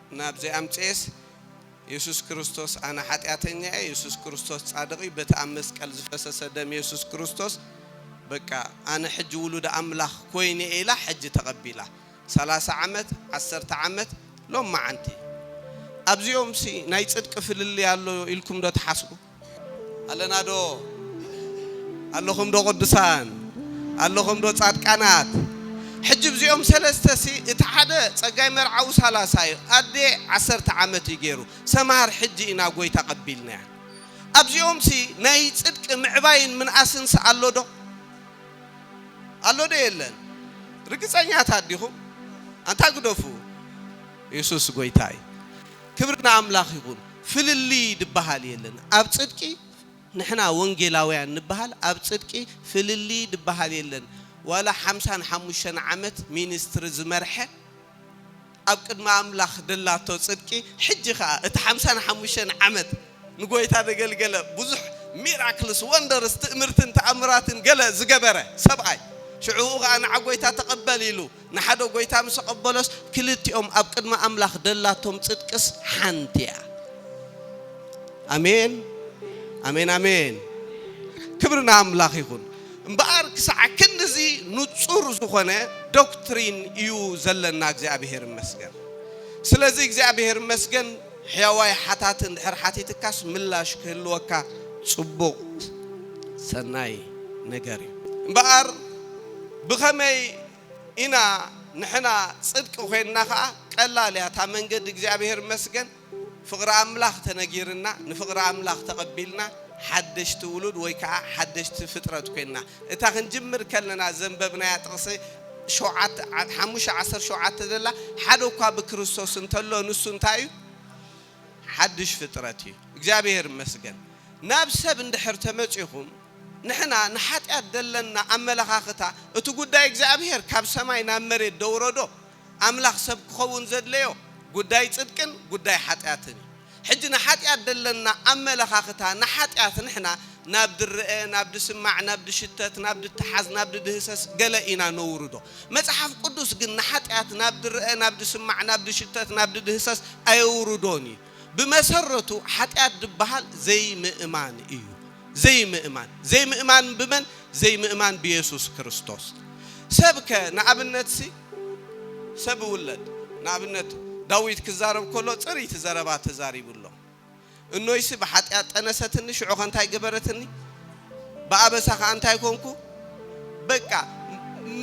ናብዚ ኣምጽኤስ የሱስ ክርስቶስ ኣነ ሓጢኣተኛ እየ የሱስ ክርስቶስ ጻድቕ እዩ በቲ ኣብ መስቀል ዝፈሰሰ ደም የሱስ ክርስቶስ በቃ ኣነ ሕጂ ውሉድ ኣምላኽ ኮይነ እየ ኢላ ሕጂ ተቐቢላ ሰላሳ ዓመት ዓሰርተ ዓመት ሎማዓንቲ ኣብዚኦምሲ ናይ ጽድቂ ፍልልይ ኣሎ ኢልኩምዶ ትሓስቡ? ኣለና ዶ ኣለኹም ዶ ቅዱሳን ኣለኹም ዶ ጻድቃናት ሕጂ እዚኦም ሰለስተ ሲ እቲ ሓደ ጸጋይ መርዓዊ ሳላሳ እዩ ኣዴ ዓሰርተ ዓመት እዩ ገይሩ ሰምሃር ሕጂ ኢና ጎይታ ቀቢልናያ ኣብዚኦም ሲ ናይ ጽድቂ ምዕባይን ምንኣስን ሲ ኣሎ ዶ ኣሎ ዶ የለን ርግጸኛታት ዲኹም ኣንታ ግደፉ የሱስ ጎይታ እዩ ክብሪ ንኣምላኽ ይኹን ፍልልይ ድበሃል የለን ኣብ ጽድቂ ንሕና ወንጌላውያን ንበሃል ኣብ ጽድቂ ፍልልይ ድበሃል የለን ዋላ ሓምሳን ሓሙሽተን ዓመት ሚንስትሪ ዝመርሐ ኣብ ቅድሚ ኣምላኽ ደላቶ ጽድቂ ሕጂ ከኣ እቲ ሓምሳን ሓሙሽተን ዓመት ንጎይታ ደገልገለ ብዙሕ ሚራክልስ ወንደርስ ትእምርትን ተኣምራትን ገለ ዝገበረ ሰብኣይ ሽዑኡ ከኣ ንዓ ጎይታ ተቀበል ኢሉ ንሓደ ጐይታ ምስ ኣቐበሎስ፣ ክልቲኦም ኣብ ቅድሚ ኣምላኽ ደላቶም ጽድቅስ ሓንቲ እያ። ኣሜን፣ ኣሜን፣ ኣሜን። ክብሪ ንኣምላኽ ይኹን። እምበኣር ክሳዕ ክንድዚ ንጹር ዝኾነ ዶክትሪን እዩ ዘለና፣ እግዚኣብሄር ይመስገን። ስለዚ እግዚኣብሄር ይመስገን፣ ሕያዋይ ሓታቲ እንድሕር ሓቲትካስ ምላሽ ክህልወካ ጽቡቕ ሰናይ ነገር እዩ። እምበኣር ብኸመይ ኢና ንሕና ጽድቂ ኮይንና ከኣ ቀላል እያ እታ መንገዲ እግዚኣብሔር ይመስገን ፍቅሪ ኣምላኽ ተነጊርና ንፍቅሪ ኣምላኽ ተቀቢልና ሓደሽቲ ውሉድ ወይ ከኣ ሓደሽቲ ፍጥረት ኮይንና እታ ክንጅምር ከለና ዘንበብናያ ጥቅሲ ሸውዓተ ሓሙሽተ ዓሰርተ ሸውዓተ ዘላ ሓደ እኳ ብክርስቶስ እንተሎ ንሱ እንታይ እዩ ሓድሽ ፍጥረት እዩ እግዚኣብሔር ይመስገን ናብ ሰብ እንድሕር ተመጺኹም ንሕና ንሓጢኣት ደለና ኣመለኻኽታ እቲ ጉዳይ እግዚኣብሔር ካብ ሰማይ ናብ መሬት ደውረዶ ኣምላኽ ሰብ ክኸውን ዘድለዮ ጉዳይ ጽድቅን ጉዳይ ሓጢኣትን እዩ ሕጂ ንሓጢኣት ደለና ኣመለኻኽታ ንሓጢኣት ንሕና ናብ ድረኤ፣ ናብ ድስማዕ፣ ናብ ድሽተት፣ ናብ ድተሓዝ፣ ናብ ድድህሰስ ገለ ኢና ነውርዶ። መጽሓፍ ቅዱስ ግን ንሓጢኣት ናብ ድረኤ፣ ናብ ድስማዕ፣ ናብ ድሽተት፣ ናብ ድድህሰስ ኣየውርዶን እዩ። ብመሰረቱ ሓጢኣት ድበሃል ዘይምእማን እዩ። ዘይምእማን። ዘይምእማን ብመን? ዘይምእማን ብየሱስ ክርስቶስ። ሰብከ ንኣብነትሲ ሰብ እውለድ ንኣብነት ዳዊት ክዛረብ ከሎ ጽርይቲ ዘረባ ተዛሪቡ ኣሎ። እኖይሲ ብሓጢኣት ጠነሰትኒ፣ ሽዑኸ እንታይ ገበረትኒ? ብኣበሳ ኸኣ እንታይ ኰንኩ? በቃ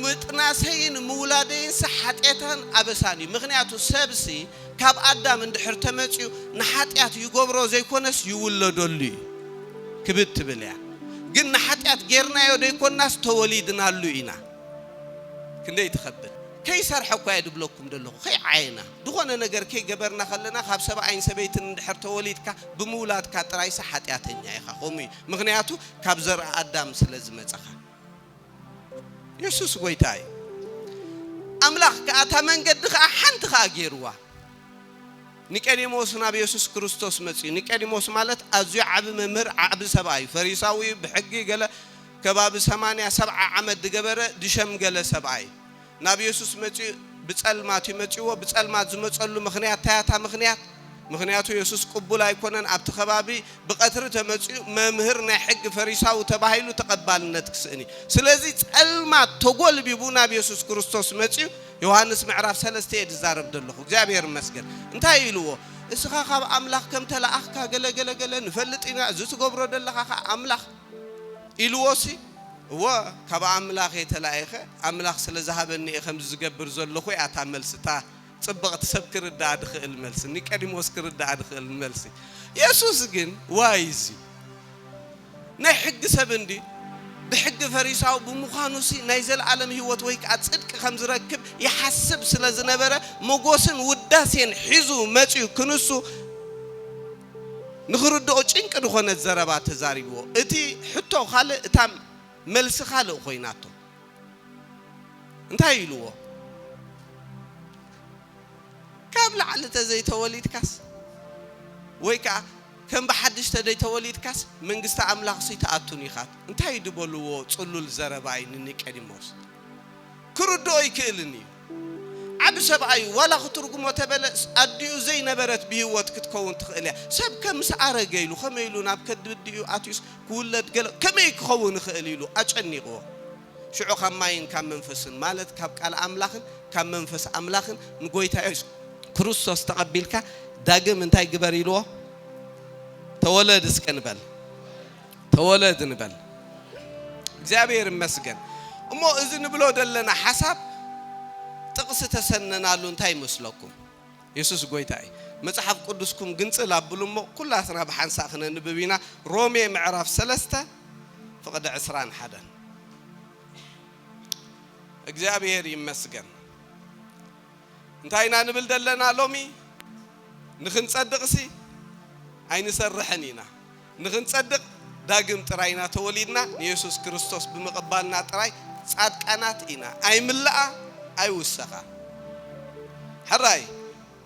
ምጥናሰይን ምውላደይንሲ ሓጢኣትን ኣበሳን እዩ። ምኽንያቱ ሰብሲ ካብ ኣዳም እንድሕር ተመጺኡ ንሓጢኣት ይገብሮ ዘይኰነስ ይውለደሉ እዩ ክብድ ትብል እያ። ግን ንሓጢኣት ጌርናዮ ዘይኰንናስ ተወሊድናሉ ኢና። ክንደይ ትኸብድ! ከይሰርሐ እኳ እየ ዝብለኩም ዘለኹ፣ ከይዓየና። ዝኾነ ነገር ከይገበርና ከለና ካብ ሰብኣይን ሰበይትን እንድሕር ተወሊድካ ብምውላድካ ጥራይሲ ሓጢኣተኛ ኢኻ ከምኡ እዩ ምኽንያቱ ካብ ዘርኢ ኣዳም ስለ ዝመጸኻ የሱስ ጎይታ እዩ ኣምላኽ ከኣ እታ መንገዲ ከኣ ሓንቲ ከኣ ገይርዋ ኒቀዲሞስ ናብ የሱስ ክርስቶስ መጽዩ ኒቀዲሞስ ማለት ኣዝዩ ዓቢ መምህር ዓቢ ሰብኣ እዩ ፈሪሳዊ ብሕጊ ገለ ከባቢ ሰማንያ ሰብዓ ዓመት ዝገበረ ዝሸምገለ ሰብኣ እዩ ናብ የሱስ መጺኡ ብጸልማት እዩ መጺዎ ብጸልማት ዝመጸሉ ምኽንያት ታይ ኣታ ምኽንያት ምኽንያቱ የሱስ ቅቡል ኣይኮነን ኣብቲ ከባቢ ብቀትሪ ተመጺኡ መምህር ናይ ሕጊ ፈሪሳዊ ተባሂሉ ተቀባልነት ክስእን እዩ ስለዚ ጸልማት ተጎልቢቡ ናብ የሱስ ክርስቶስ መጺኡ ዮሃንስ ምዕራፍ ሰለስተ እየ ዝዛረብ ዘለኹ እግዚኣብሔር ይመስገን እንታይ ኢልዎ እስኻ ካብ ኣምላኽ ከም ተለኣኽካ ገለ ገለ ገለ ንፈልጥ ኢና እዚ ትገብሮ ዘለኻ ከኣ ኣምላኽ ኢልዎሲ፣ እወ፣ ካብ ኣምላኽ እየ ተላኢኸ፣ ኣምላኽ ስለ ዝሃበኒ እየ ከምዚ ዝገብር ዘለኹ እያ እታ መልሲ፣ እታ ጽብቕቲ ሰብ ክርድኣ ዝኽእል መልሲ፣ ኒቀዲሞስ ክርድኣ ዝኽእል መልሲ። የሱስ ግን፣ ዋይ እዚ ናይ ሕጊ ሰብ እንድዩ፣ ብሕጊ ፈሪሳዊ ብምዃኑሲ ናይ ዘለኣለም ህይወት ወይ ከኣ ጽድቂ ከም ዝረክብ ይሓስብ ስለ ዝነበረ፣ መጎስን ውዳሴን ሒዙ መጺኡ ክንሱ፣ ንኽርድኦ ጭንቂ ዝኾነ ዘረባ ተዛሪብዎ። እቲ ሕቶ ካልእ እታ መልሲ ካልእ ኮይናቶ። እንታይ ኢልዎ? ካብ ላዕሊ ተዘይተወሊድካስ ወይ ከኣ ከም ብሓድሽ ተደይተወሊድካስ መንግስቲ ኣምላኽሲ ትኣቱን ኢኻ እንታይ ድበልዎ ጽሉል ዘረባ እዩ ንኒቀዲሞስ ክርድኦ ኣይክእልን እዩ። ዓቢ ሰብኣይ እዩ ዋላ ክትርጉሞ ተበለስ ኣዲኡ ዘይ ነበረት ብሂወት ክትከውን ትክእል እያ ሰብ ከ ምስ ኣረገ ኢሉ ከመይ ኢሉ ናብ ከድብዲኡ ኣትዩስ ክውለድ ገለ ከመይ ክከውን ይክእል ኢሉ ኣጨኒቅዎ ሽዑ ካብ ማይን ካብ መንፈስን ማለት ካብ ቃል ኣምላክን ካብ መንፈስ ኣምላክን ንጎይታ የሱስ ክርስቶስ ተቀቢልካ ዳግም እንታይ ግበር ኢልዎ ተወለድ እስከ ንበል። ተወለድ ንበል እግዚኣብሔር ይመስገን እሞ እዚ ንብሎ ዘለና ሓሳብ ጥቕሲ ተሰነናሉ እንታይ ይመስለኩም የሱስ ጎይታ እዩ መጽሓፍ ቅዱስኩም ግንጽል ኣብሉ እሞ ኩላትና ብሓንሳእ ክነንብብ ኢና ሮሜ ምዕራፍ ሰለስተ ፍቕዲ ዕስራን ሓደን እግዚኣብሔር ይመስገን እንታይ ኢና ንብል ዘለና ሎሚ ንክንጸድቕሲ ኣይንሰርሕን ኢና ንኽንጸድቕ ዳግም ጥራይ ኢና ተወሊድና፣ ንየሱስ ክርስቶስ ብምቕባልና ጥራይ ጻድቃናት ኢና፣ ኣይምለኣ ኣይውሰኻ። ሕራይ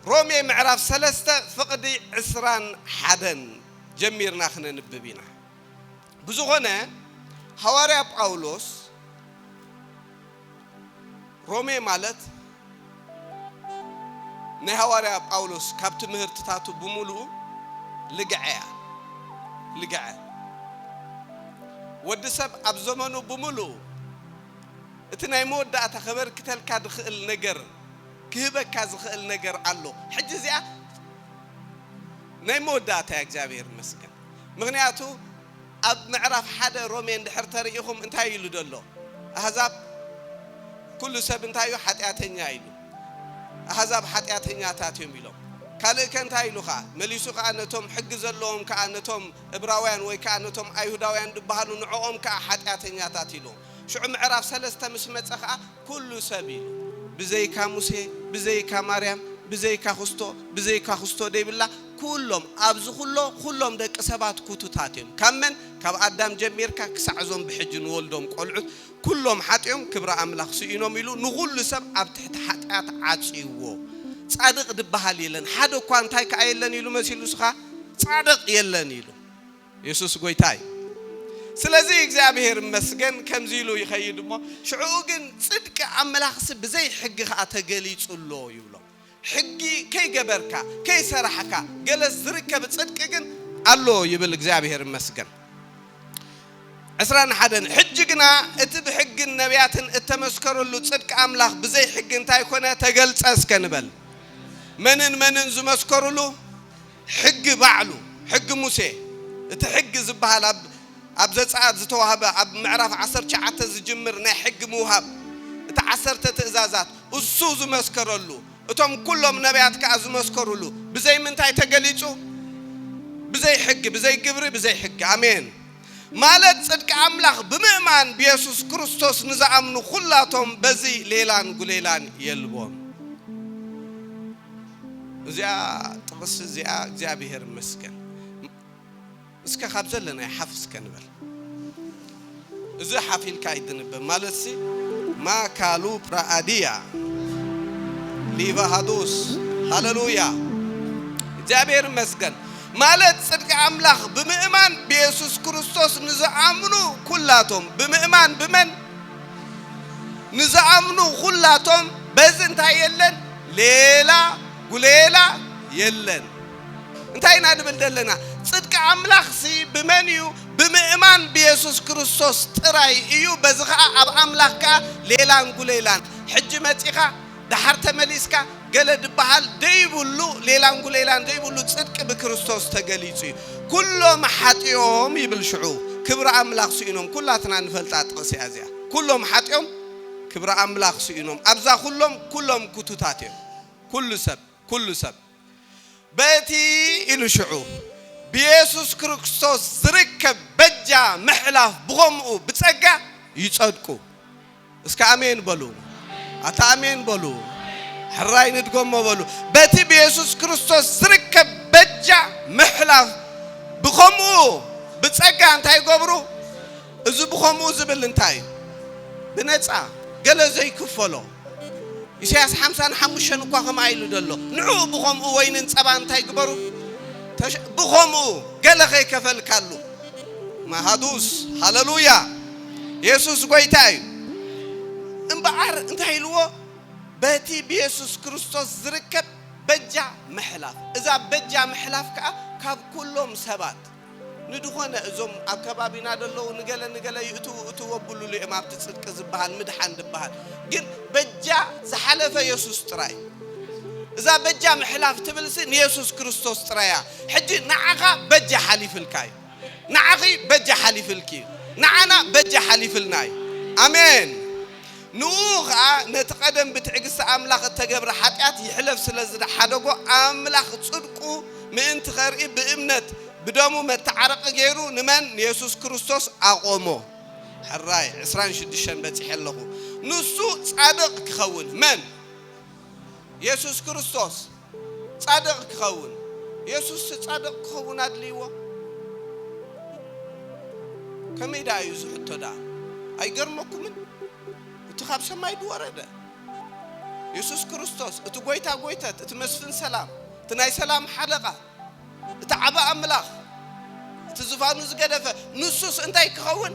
ሮሜ ምዕራፍ ሰለስተ ፍቕዲ ዕስራን ሓደን ጀሚርና ክነንብብ ኢና። ብዝኾነ ሃዋርያ ጳውሎስ፣ ሮሜ ማለት ናይ ሃዋርያ ጳውሎስ ካብ ትምህርትታቱ ብምሉኡ ልግዐ እያ። ልግዐ ወዲ ሰብ ኣብ ዘመኑ ብምሉኡ እቲ ናይ መወዳእታ ከበርክተልካ ዝኽእል ነገር ክህበካ ዝኽእል ነገር ኣሎ። ሕጂ እዚኣ ናይ መወዳእታ እያ እግዚኣብሔር ይመስገን ምኽንያቱ ኣብ ምዕራፍ ሓደ ሮሜ እንድሕር ተሪኢኹም እንታይ ኢሉ ዶ ኣሎ ኣህዛብ ኩሉ ሰብ እንታይ እዩ ሓጢኣተኛ ኢሉ ኣህዛብ ሓጢኣተኛታት እዮም ኢሎም ካልእ ከ እንታይ ኢሉ ከኣ መሊሱ ከኣ ነቶም ሕጊ ዘለዎም ከኣ ነቶም እብራውያን ወይ ከኣ ነቶም ኣይሁዳውያን ድበሃሉ ንዕኦም ከኣ ሓጢኣተኛታት ኢሉ ሽዑ ምዕራፍ ሰለስተ ምስ መጸ ከኣ ኩሉ ሰብ ኢሉ ብዘይካ ሙሴ ብዘይካ ማርያም ብዘይካ ኹስቶ ብዘይካ ኹስቶ ደይብላ ኩሎም ኣብዚ ኩሎ ኩሎም ደቂ ሰባት ኩቱታት እዮም ካብ መን ካብ ኣዳም ጀሚርካ ክሳዕ እዞም ብሕጂ ንወልዶም ቆልዑት ኩሎም ሓጢኦም ክብሪ ኣምላኽ ስኢኖም ኢሉ ንኹሉ ሰብ ኣብ ትሕቲ ሓጥያት ዓጽይዎ ጻድቅ ድበሃል የለን ሓደ እኳ እንታይ ከኣ የለን ኢሉ መሲሉ እስኻ ጻድቅ የለን ኢሉ የሱስ ጎይታ እዩ ስለዚ እግዚኣብሄር ይመስገን ከምዚ ኢሉ ይኸይድ እሞ ሽዕኡ ግን ጽድቂ ኣምላኽሲ ብዘይ ሕጊ ኸኣ ተገሊጹ ኣሎ ይብሎም ሕጊ ከይገበርካ ከይሰራሕካ ገለ ዝርከብ ጽድቂ ግን ኣሎ ይብል እግዚኣብሄር ይመስገን ዕስራን ሓደን ሕጂ ግና እቲ ብሕግን ነቢያትን እተመስከረሉ ጽድቂ ኣምላኽ ብዘይ ሕጊ እንታይ ኮነ ተገልጸ እስከ ንበል መንን መንን ዝመስከሩሉ ሕጊ ባዕሉ፣ ሕጊ ሙሴ፣ እቲ ሕጊ ዝበሃል ኣብ ኣብ ዘጸኣት ዝተዋህበ ኣብ ምዕራፍ ዓሰርተ ትሽዓተ ዝጅምር ናይ ሕጊ ምውሃብ፣ እቲ ዓሰርተ ትእዛዛት፣ እሱ ዝመስከረሉ፣ እቶም ኩሎም ነብያት ከኣ ዝመስከሩሉ፣ ብዘይ ምንታይ ተገሊጹ? ብዘይ ሕጊ፣ ብዘይ ግብሪ፣ ብዘይ ሕጊ። ኣሜን። ማለት ጽድቂ ኣምላኽ ብምእማን ብየሱስ ክርስቶስ ንዝኣምኑ ኩላቶም በዚ ሌላን ጉሌላን የልቦም። እዚኣ ጥቕሲ እዚኣ እግዚኣብሔር ይመስገን እስከ ካብ ዘለናዮ ሓፍ እስከ ንበል እዚ ሓፍ ኢልካ ኣይትንበብ ማለትሲ ማካሉ ፕራኣድያ ሊቫሃዱስ ሃለሉያ እግዚኣብሔር ይመስገን ማለት ጽድቂ ኣምላኽ ብምእማን ብየሱስ ክርስቶስ ንዝኣምኑ ኩላቶም ብምእማን ብመን ንዝኣምኑ ኹላቶም በዚ እንታይ የለን ሌላ ጉሌላ የለን። እንታይ ኢና ንብል ዘለና ጽድቂ ኣምላኽሲ ብመን እዩ ብምእማን ብየሱስ ክርስቶስ ጥራይ እዩ በዚ ኸኣ ኣብ ኣምላኽ ከኣ ሌላን ጉሌላን ሕጂ መጺኻ ደሓር ተመሊስካ ገለ ድበሃል ደይብሉ ሌላንጉሌላን ደይብሉ ጽድቂ ብክርስቶስ ተገሊጹ እዩ ኩሎም ሓጢኦም ይብል ሽዑ ክብሪ ኣምላኽ ስኢኖም ኩላትና ንፈልጣ ጥቕሲ እያ እዚኣ ኩሎም ሓጢኦም ክብሪ ኣምላኽ ስኢኖም ኣብዛ ኩሎም ኩሎም ኩቱታት እዮም ኩሉ ሰብ ኩሉ ሰብ በቲ ኢሉ ሽዑ ብየሱስ ክርስቶስ ዝርከብ በጃ ምሕላፍ ብኸምኡ ብጸጋ ይጸድቁ። እስከ ኣሜን በሉ። ኣታ ኣሜን በሉ። ሕራይ ንድገሞ በሉ። በቲ ብየሱስ ክርስቶስ ዝርከብ በጃ ምሕላፍ ብኸምኡ ብጸጋ እንታይ ይገብሩ? እዚ ብኸምኡ ዝብል እንታይ እዩ? ብነጻ ገለ ዘይክፈሎ ኢሳያስ ሓምሳን ሓሙሽተን እኳ ከምኣ ኢሉ ዶ ኣሎ? ንዕኡ ብኸምኡ ወይንን ጸባን እንታይ ግበሩ ተሸ ብኸምኡ ገለ ከይከፈልካሉ ማሃዱስ ሃለሉያ የሱስ ጎይታ እዩ። እምበኣር እንታይ ኢልዎ በቲ ብየሱስ ክርስቶስ ዝርከብ በጃ ምሕላፍ እዛ በጃ ምሕላፍ ከኣ ካብ ኩሎም ሰባት ንድኾነ እዞም ኣብ ከባቢና ደለዉ ንገለ ንገለ ይእትዉ እትዉ ኣብሉሉ እዮም ኣብቲ ጽድቂ ዝብሃል ምድሓን ድብሃል ግን በጃ ዝሓለፈ የሱስ ጥራይ እዛ በጃ ምሕላፍ ትብልሲ ንየሱስ ክርስቶስ ጥራይ እያ ሕጂ ንዓኻ በጃ ሓሊፍልካ እዩ ንዓኺ በጃ ሓሊፍልኪ እዩ ንዓና በጃ ሓሊፍልና እዩ ኣሜን ንእኡ ኸኣ ነቲ ቀደም ብትዕግስቲ ኣምላኽ እተገብረ ሓጢኣት ይሕለፍ ስለ ዝሓደጎ፣ ኣምላኽ ጽድቁ ምእንቲ ኸርኢ ብእምነት ብደሙ መተዓረቒ ገይሩ ንመን? ንየሱስ ክርስቶስ ኣቖሞ። ሕራይ ዕስራን ሽዱሽተን በጺሐ ኣለኹ። ንሱ ጻድቕ ኪኸውን፣ መን? የሱስ ክርስቶስ። ጻድቕ ኪኸውን። የሱስሲ ጻድቕ ኪኸውን ኣድልይዎ? ከመይ ደኣ እዩ እዚ ሕቶ ደኣ? ኣይገርመኩምን? እቲ ኻብ ሰማይ ድወረደ የሱስ ክርስቶስ፣ እቲ ጐይታ ጐይተት፣ እቲ መስፍን ሰላም፣ እቲ ናይ ሰላም ሓለቓ፣ እቲ ዓቢ ኣምላኽ፣ እቲ ዝፋኑ ዝገደፈ፣ ንሱስ እንታይ ኪኸውን?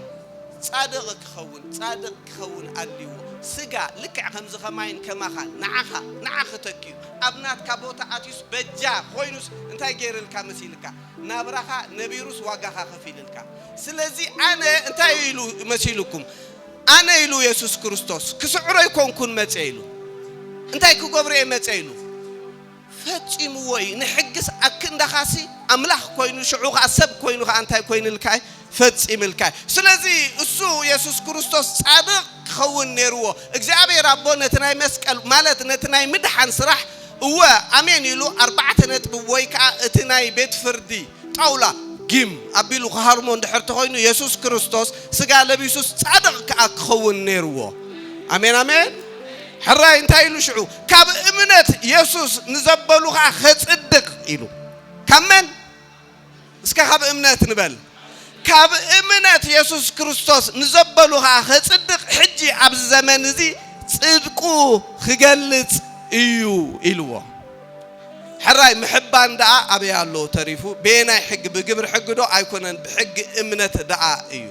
ጻድቕ ኪኸውን፣ ጻድቕ ኪኸውን ኣልዎ። ስጋ፣ ልክዕ ከምዚ ከማይን ከማኻን፣ ንዓኻ፣ ንዓኺ ተኪኡ፣ ኣብ ናትካ ቦታ ኣትዩስ በጃ ኾይኑስ እንታይ ገይርልካ መሲልካ? ናብራኻ ነቢሩስ ዋጋኻ ከፊልልካ። ስለዚ ኣነ እንታይ እዩ ኢሉ መሲሉኩም? ኣነ ኢሉ የሱስ ክርስቶስ፣ ክስዕሮ ኣይኮንኩን መጸ ኢሉ። እንታይ ክገብሮ እየ መጸ ኢሉ? ፈጺምዎ እዩ ንሕግስ ኣክንዳኻሲ ኣምላኽ ኮይኑ ሽዑ ከኣ ሰብ ኮይኑ ከኣ እንታይ ኮይንልካ እዩ ፈጺምልካ እዩ ስለዚ እሱ የሱስ ክርስቶስ ጻድቕ ክኸውን ኔርዎ እግዚኣብሔር ኣቦ ነቲ ናይ መስቀል ማለት ነቲ ናይ ምድሓን ስራሕ እወ ኣሜን ኢሉ ኣርባዕተ ነጥቢ ወይ ከኣ እቲ ናይ ቤት ፍርዲ ጣውላ ጊም ኣቢሉ ክሃርሞ እንድሕር ተኾይኑ የሱስ ክርስቶስ ስጋ ለቢሱስ ጻድቕ ከኣ ክኸውን ኔርዎ ኣሜን ኣሜን ሕራይ እንታይ ኢሉ ሽዑ ካብ እምነት የሱስ ንዘበሉ ኸኣ ኼጽድቕ ኢሉ። ካብ መን? እስከ ካብ እምነት ንበል። ካብ እምነት የሱስ ክርስቶስ ንዘበሉ ኸኣ ኼጽድቕ ሕጂ ኣብዚ ዘመን እዚ ጽድቁ ኺገልጽ እዩ ኢልዎ። ሕራይ ምሕባን ደኣ ኣበይ ኣሎ ተሪፉ? በየናይ ሕጊ? ብግብሪ ሕጊዶ? ኣይኰነን፣ ብሕጊ እምነት ደኣ እዩ።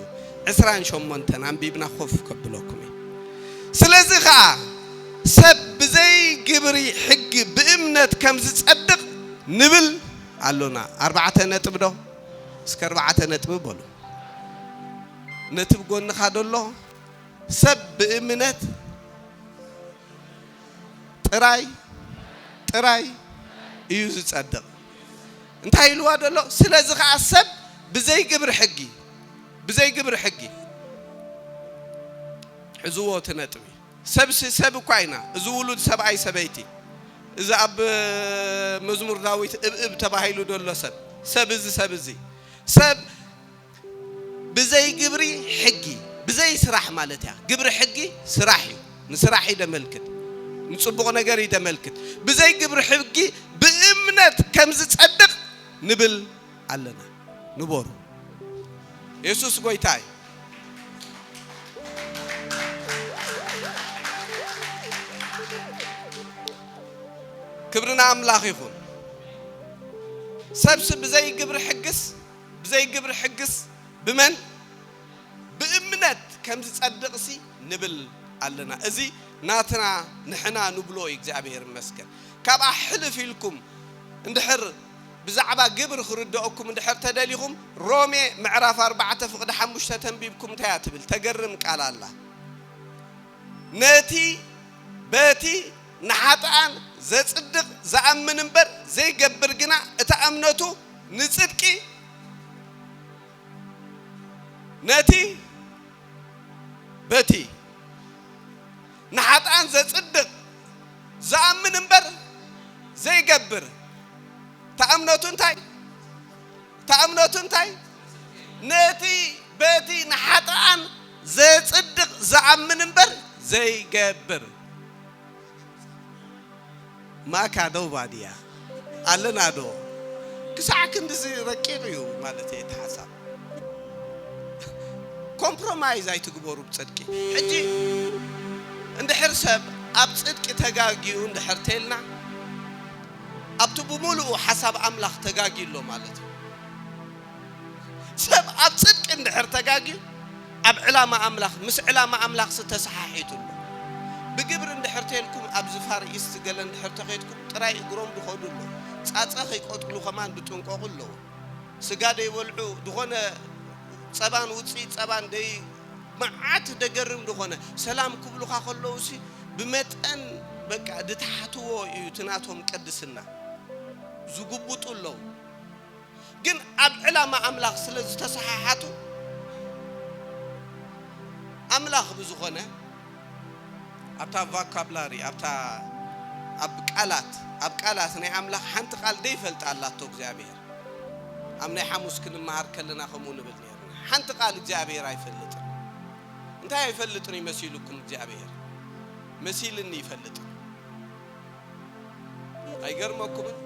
ዕስራን ሸሞንተን ኣንቢብና ኮፍ ከብለኩም እየ። ስለዚ ኸኣ። ሰብ ብዘይ ግብሪ ሕጊ ብእምነት ከም ዝጸድቕ ንብል ኣሎና። ኣርባዕተ ነጥብዶ? እስከ ኣርባዕተ ነጥብ በሉ። ነቲ ብ ጎንኻ ደሎ ሰብ ብእምነት ጥራይ ጥራይ እዩ ዝጸድቕ እንታይ ኢልዋ ደሎ? ስለዚ ከኣ ሰብ ብዘይ ግብሪ ሕጊ ብዘይ ግብሪ ሕጊ ሕዝዎ እቲ ነጥቢ ሰብሲ ሰብ እኳ ኢና እዚ ውሉድ ሰብኣይ ሰበይቲ እዚ ኣብ መዝሙር ዳዊት እብ እብ ተባሂሉ ደሎ ሰብ ሰብ እዚ ሰብ እዚ ሰብ ብዘይ ግብሪ ሕጊ ብዘይ ስራሕ ማለት እያ ግብሪ ሕጊ ስራሕ እዩ ንስራሕ እዩ ደመልክት ንጽቡቕ ነገር እዩ ደመልክት ብዘይ ግብሪ ሕጊ ብእምነት ከም ዝጸድቕ ንብል ኣለና ንበሩ የሱስ ጎይታ እዩ። ክብሪ ንኣምላኽ ይኹን። ሰብሲ ብዘይ ግብሪ ሕግስ ብዘይ ግብሪ ሕግስ ብመን ብእምነት ከም ዝጸድቕሲ ንብል ኣለና። እዚ ናትና ንሕና ንብሎ እዩ። እግዚኣብሔር ይመስገን። ካብኣ ሕልፍ ኢልኩም እንድሕር ብዛዕባ ግብሪ ክርደኦኩም እንድሕር ተደሊኹም ሮሜ ምዕራፍ ኣርባዕተ ፍቅዲ ሓሙሽተ ተንቢብኩም እንታይ እያ ትብል ተገርም ቃል ኣላ ነቲ በቲ ንሓጥኣን ዘጽድቅ ዝኣምን እምበር ዘይገብር ግና እታ እምነቱ ንጽድቂ ነቲ በቲ ንሓጥኣን ዘጽድቕ ዝኣምን እምበር ዘይገብር እታ እምነቱ እንታይ እታ እምነቱ እንታይ ነቲ በቲ ንሓጥኣን ዘጽድቕ ዝኣምን እምበር ዘይገብር ማካ ዶ ባድያ ኣለና ዶ ክሳዕ ክንድዚ ረቂቕ እዩ ማለተይ እቲ ሓሳብ ኮምፕሮማይዝ ኣይትግበሩ ብጽድቂ ሕጂ እንድሕር ሰብ ኣብ ጽድቂ ተጋግዩ እንድሕር ተልና ኣብቲ ብምሉኡ ሓሳብ ኣምላኽ ተጋግዩ ኣሎ ማለት እዩ ሰብ ኣብ ጽድቂ እንድሕር ተጋግዩ ኣብ ዕላማ ኣምላኽ ምስ ዕላማ ኣምላኽሲ ተሰሓሒቱ ኣሎ። ብግብሪ እንድሕር ተልኩም ኣብዚ ፋር ኢስት ገለ እንድሕር ተኼድኩም ጥራይ እግሮም ድኸዱ ኣሎ ጻጸ ከይቆጥሉ ከማን ድጥንቆቁ ኣለዎ ስጋ ደይበልዑ ድኾነ ጸባን ውጽኢት ጸባን ደይ መዓት ደገርም ድኾነ ሰላም ክብሉኻ ከለውሲ ብመጠን በቃ ድትሓትዎ ኢዩ እቲ ናቶም ቅድስና ዝጉቡጡ ኣለዉ። ግን ኣብ ዕላማ ኣምላኽ ስለ ዝተሰሓሓቱ ኣምላኽ ብዝኾነ ኣብታ ቫካብላሪ ኣብታ ኣብ ቃላት ኣብ ቃላት ናይ ኣምላኽ ሓንቲ ቃል ዘይፈልጣ ኣላቶ እግዚኣብሔር ኣብ ናይ ሓሙስ ክንመሃር ከለና ከምኡ ንብል ነርና ሓንቲ ቃል እግዚኣብሔር ኣይፈልጥን እንታይ ኣይፈልጥን እዩ መሲሉኩም እግዚኣብሔር መሲልኒ ይፈልጥ ኣይገርመኩምን?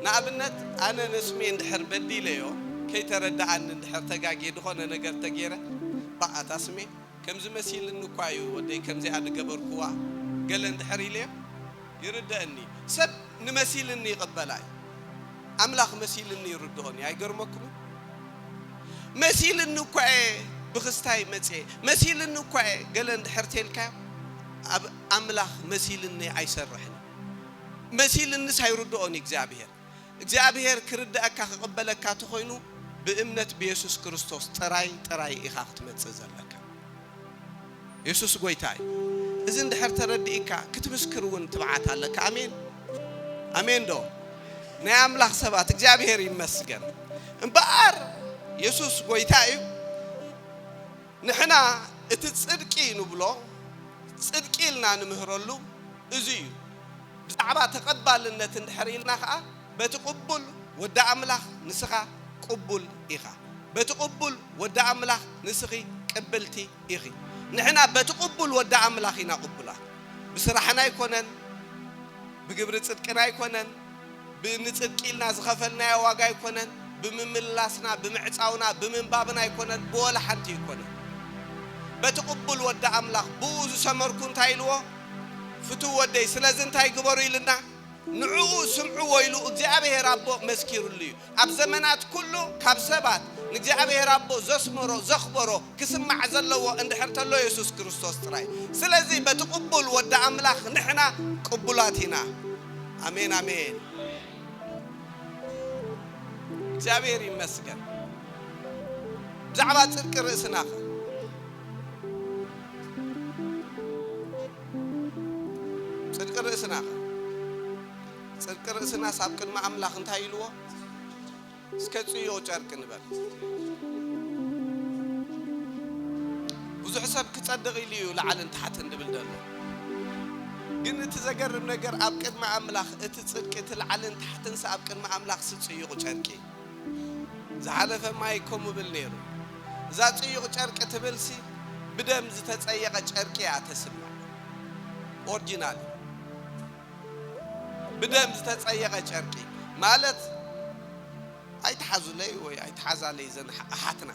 ንኣብነት ኣነ ንስሜ እንድሕር በዲለዮ ከይተረደኣኒ እንድሕር ተጋግየ ድኮነ ነገር ተጌረ ባእ ኣታ ስሜ ከምዚ መሲልኒ እኳ እዩ ወደይ ከምዚኣ ድገበርኩዋ ገለ እንድሕር ኢለዮ ይርደእኒ እዩ ሰብ ንመሲልኒ ይቅበላ እዩ ኣምላክ መሲልኒ ይርድኦን እዩ ኣይገርመኩምን? መሲልኒ እኳ እየ ብክስታይ መጽየ መሲልኒ እኳ እየ ገለ እንድሕር ተልካዮ ኣብ ኣምላኽ መሲልኒ ኣይሰርሕን እዩ መሲልንስ ኣይርድኦን እዩ እግዚኣብሄር እግዚኣብሄር ክርደኣካ ክቅበለካ ተኾይኑ ብእምነት ብየሱስ ክርስቶስ ጥራይ ጥራይ ኢኻ ክትመጽእ ዘለካ የሱስ ጎይታ እዩ እዚ እንድሕር ተረዲእካ ክትምስክር እውን ትብዓት ኣለካ ኣሜን ኣሜን ዶ ናይ ኣምላኽ ሰባት እግዚኣብሄር ይመስገን እምበኣር የሱስ ጎይታ እዩ ንሕና እቲ ጽድቂ ንብሎ ጽድቂ ኢልና ንምህረሉ እዚ እዩ። ብዛዕባ ተቐባልነት እንድሕር ኢልና ከኣ በቲ ቅቡል ወዲ ኣምላኽ ንስኻ ቅቡል ኢኻ በቲ ቅቡል ወዲ ኣምላኽ ንስኺ ቅብልቲ ኢኺ ንሕና በቲ ቅቡል ወዲ ኣምላኽ ኢና ቅቡላት ብስራሕና ኣይኮነን ብግብሪ ጽድቅና ኣይኮነን ብንጽድቂ ኢልና ዝኸፈልናዮ ዋጋ ኣይኮነን፣ ብምምልላስና፣ ብምዕጻውና፣ ብምንባብና ኣይኮነን፣ ብወላ ሓንቲ ኣይኮነን። በቲ ቅቡል ወዲ ኣምላኽ ብእኡ ዝሰመርኩ እንታይ ኢልዎ? ፍቱው ወደይ ስለዚ እንታይ ግበሩ ኢልና? ንዕኡ ስምዕዎ ኢሉ እግዚኣብሄር ኣቦ መስኪርሉ እዩ። ኣብ ዘመናት ኩሉ ካብ ሰባት ንእግዚኣብሔር ኣቦ ዘስመሮ ዘኽበሮ ክስማዕ ዘለዎ እንድሕር ተሎ የሱስ ክርስቶስ ጥራይ ስለዚ በቲ ቅቡል ወዲ ኣምላኽ ንሕና ቅቡላት ኢና ኣሜን ኣሜን እግዚኣብሔር ይመስገን ብዛዕባ ጽድቂ ርእስናኸ ጽድቂ ርእስናኸ ጽድቂ ርእስናስ ኣብ ቅድሚ ኣምላኽ እንታይ ኢልዎ? እስከ ጽዮ ጨርቂ ንበል። ብዙሕ ሰብ ክጸድቕ ኢሉ እዩ ላዕልን ታሕትን ድብል ደሎ። ግን እቲ ዘገርም ነገር ኣብ ቅድሚ ኣምላኽ እቲ ጽድቂ እቲ ላዕልን ታሕትንስ ኣብ ቅድሚ ኣምላኽ ሲ ጽዩቕ ጨርቂ ዝሓለፈ ማይ ከምኡ ብል ነይሩ። እዛ ጽዩቕ ጨርቂ ትብልሲ ብደም ዝተጸየቐ ጨርቂ እያ ተስምዕ። ኦርጂናል እዩ። ብደም ዝተጸየቐ ጨርቂ ማለት ኣይትሓዙለይ ወይ ኣይትሓዛለይ እዘን ኣሓትና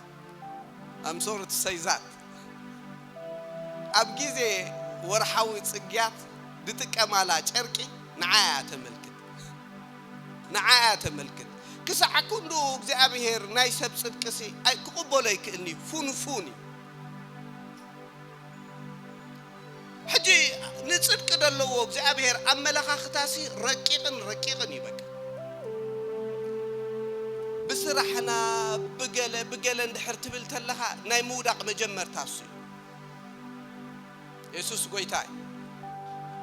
I'm sorry to say that ኣብ ግዜ ወርሓዊ ጽግያት ዝጥቀማላ ጨርቂ ንዓ እያ ተመልክት ንዓ እያ ተመልክት ክሳዕ ክንድኡ እግዚኣብሄር ናይ ሰብ ጽድቅሲ ኣይ ክቕበሎ ኣይክእልን'ዩ ፉንፉን እዩ ሕጂ ንጽድቂ ደለዎ እግዚኣብሔር ኣመለኻኽታሲ ረቂቕን ረቂቕን እዩ በቃ ብስራሕና ብገለ ብገለ እንድሕር ትብል ተለኻ ናይ ምውዳቕ መጀመርታ እሱ እዩ የሱስ ጎይታ እዩ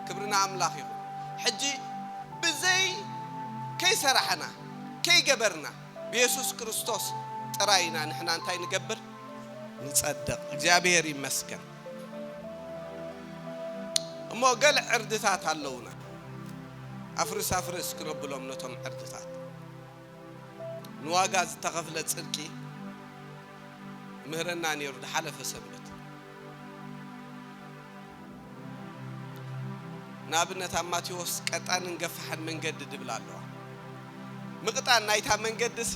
ክብሪ ንኣምላኽ ይኹን ሕጂ ብዘይ ከይሰራሕና ከይገበርና ብየሱስ ክርስቶስ ጥራይ ኢና ንሕና እንታይ ንገብር ንጸደቕ እግዚኣብሔር ይመስገን እሞ ገለ ዕርድታት ኣለውና ኣፍርስ ኣፍርስ ክነብሎም ነቶም ዕርድታት ንዋጋ ዝተኸፍለ ጽድቂ ምህረና ነይሩ ድሓለፈ ሰንበት ንኣብነት ኣብ ማቴዎስ ቀጣንን ገፋሕን መንገዲ ድብል ኣለዋ። ምቅጣን ናይታ መንገዲሲ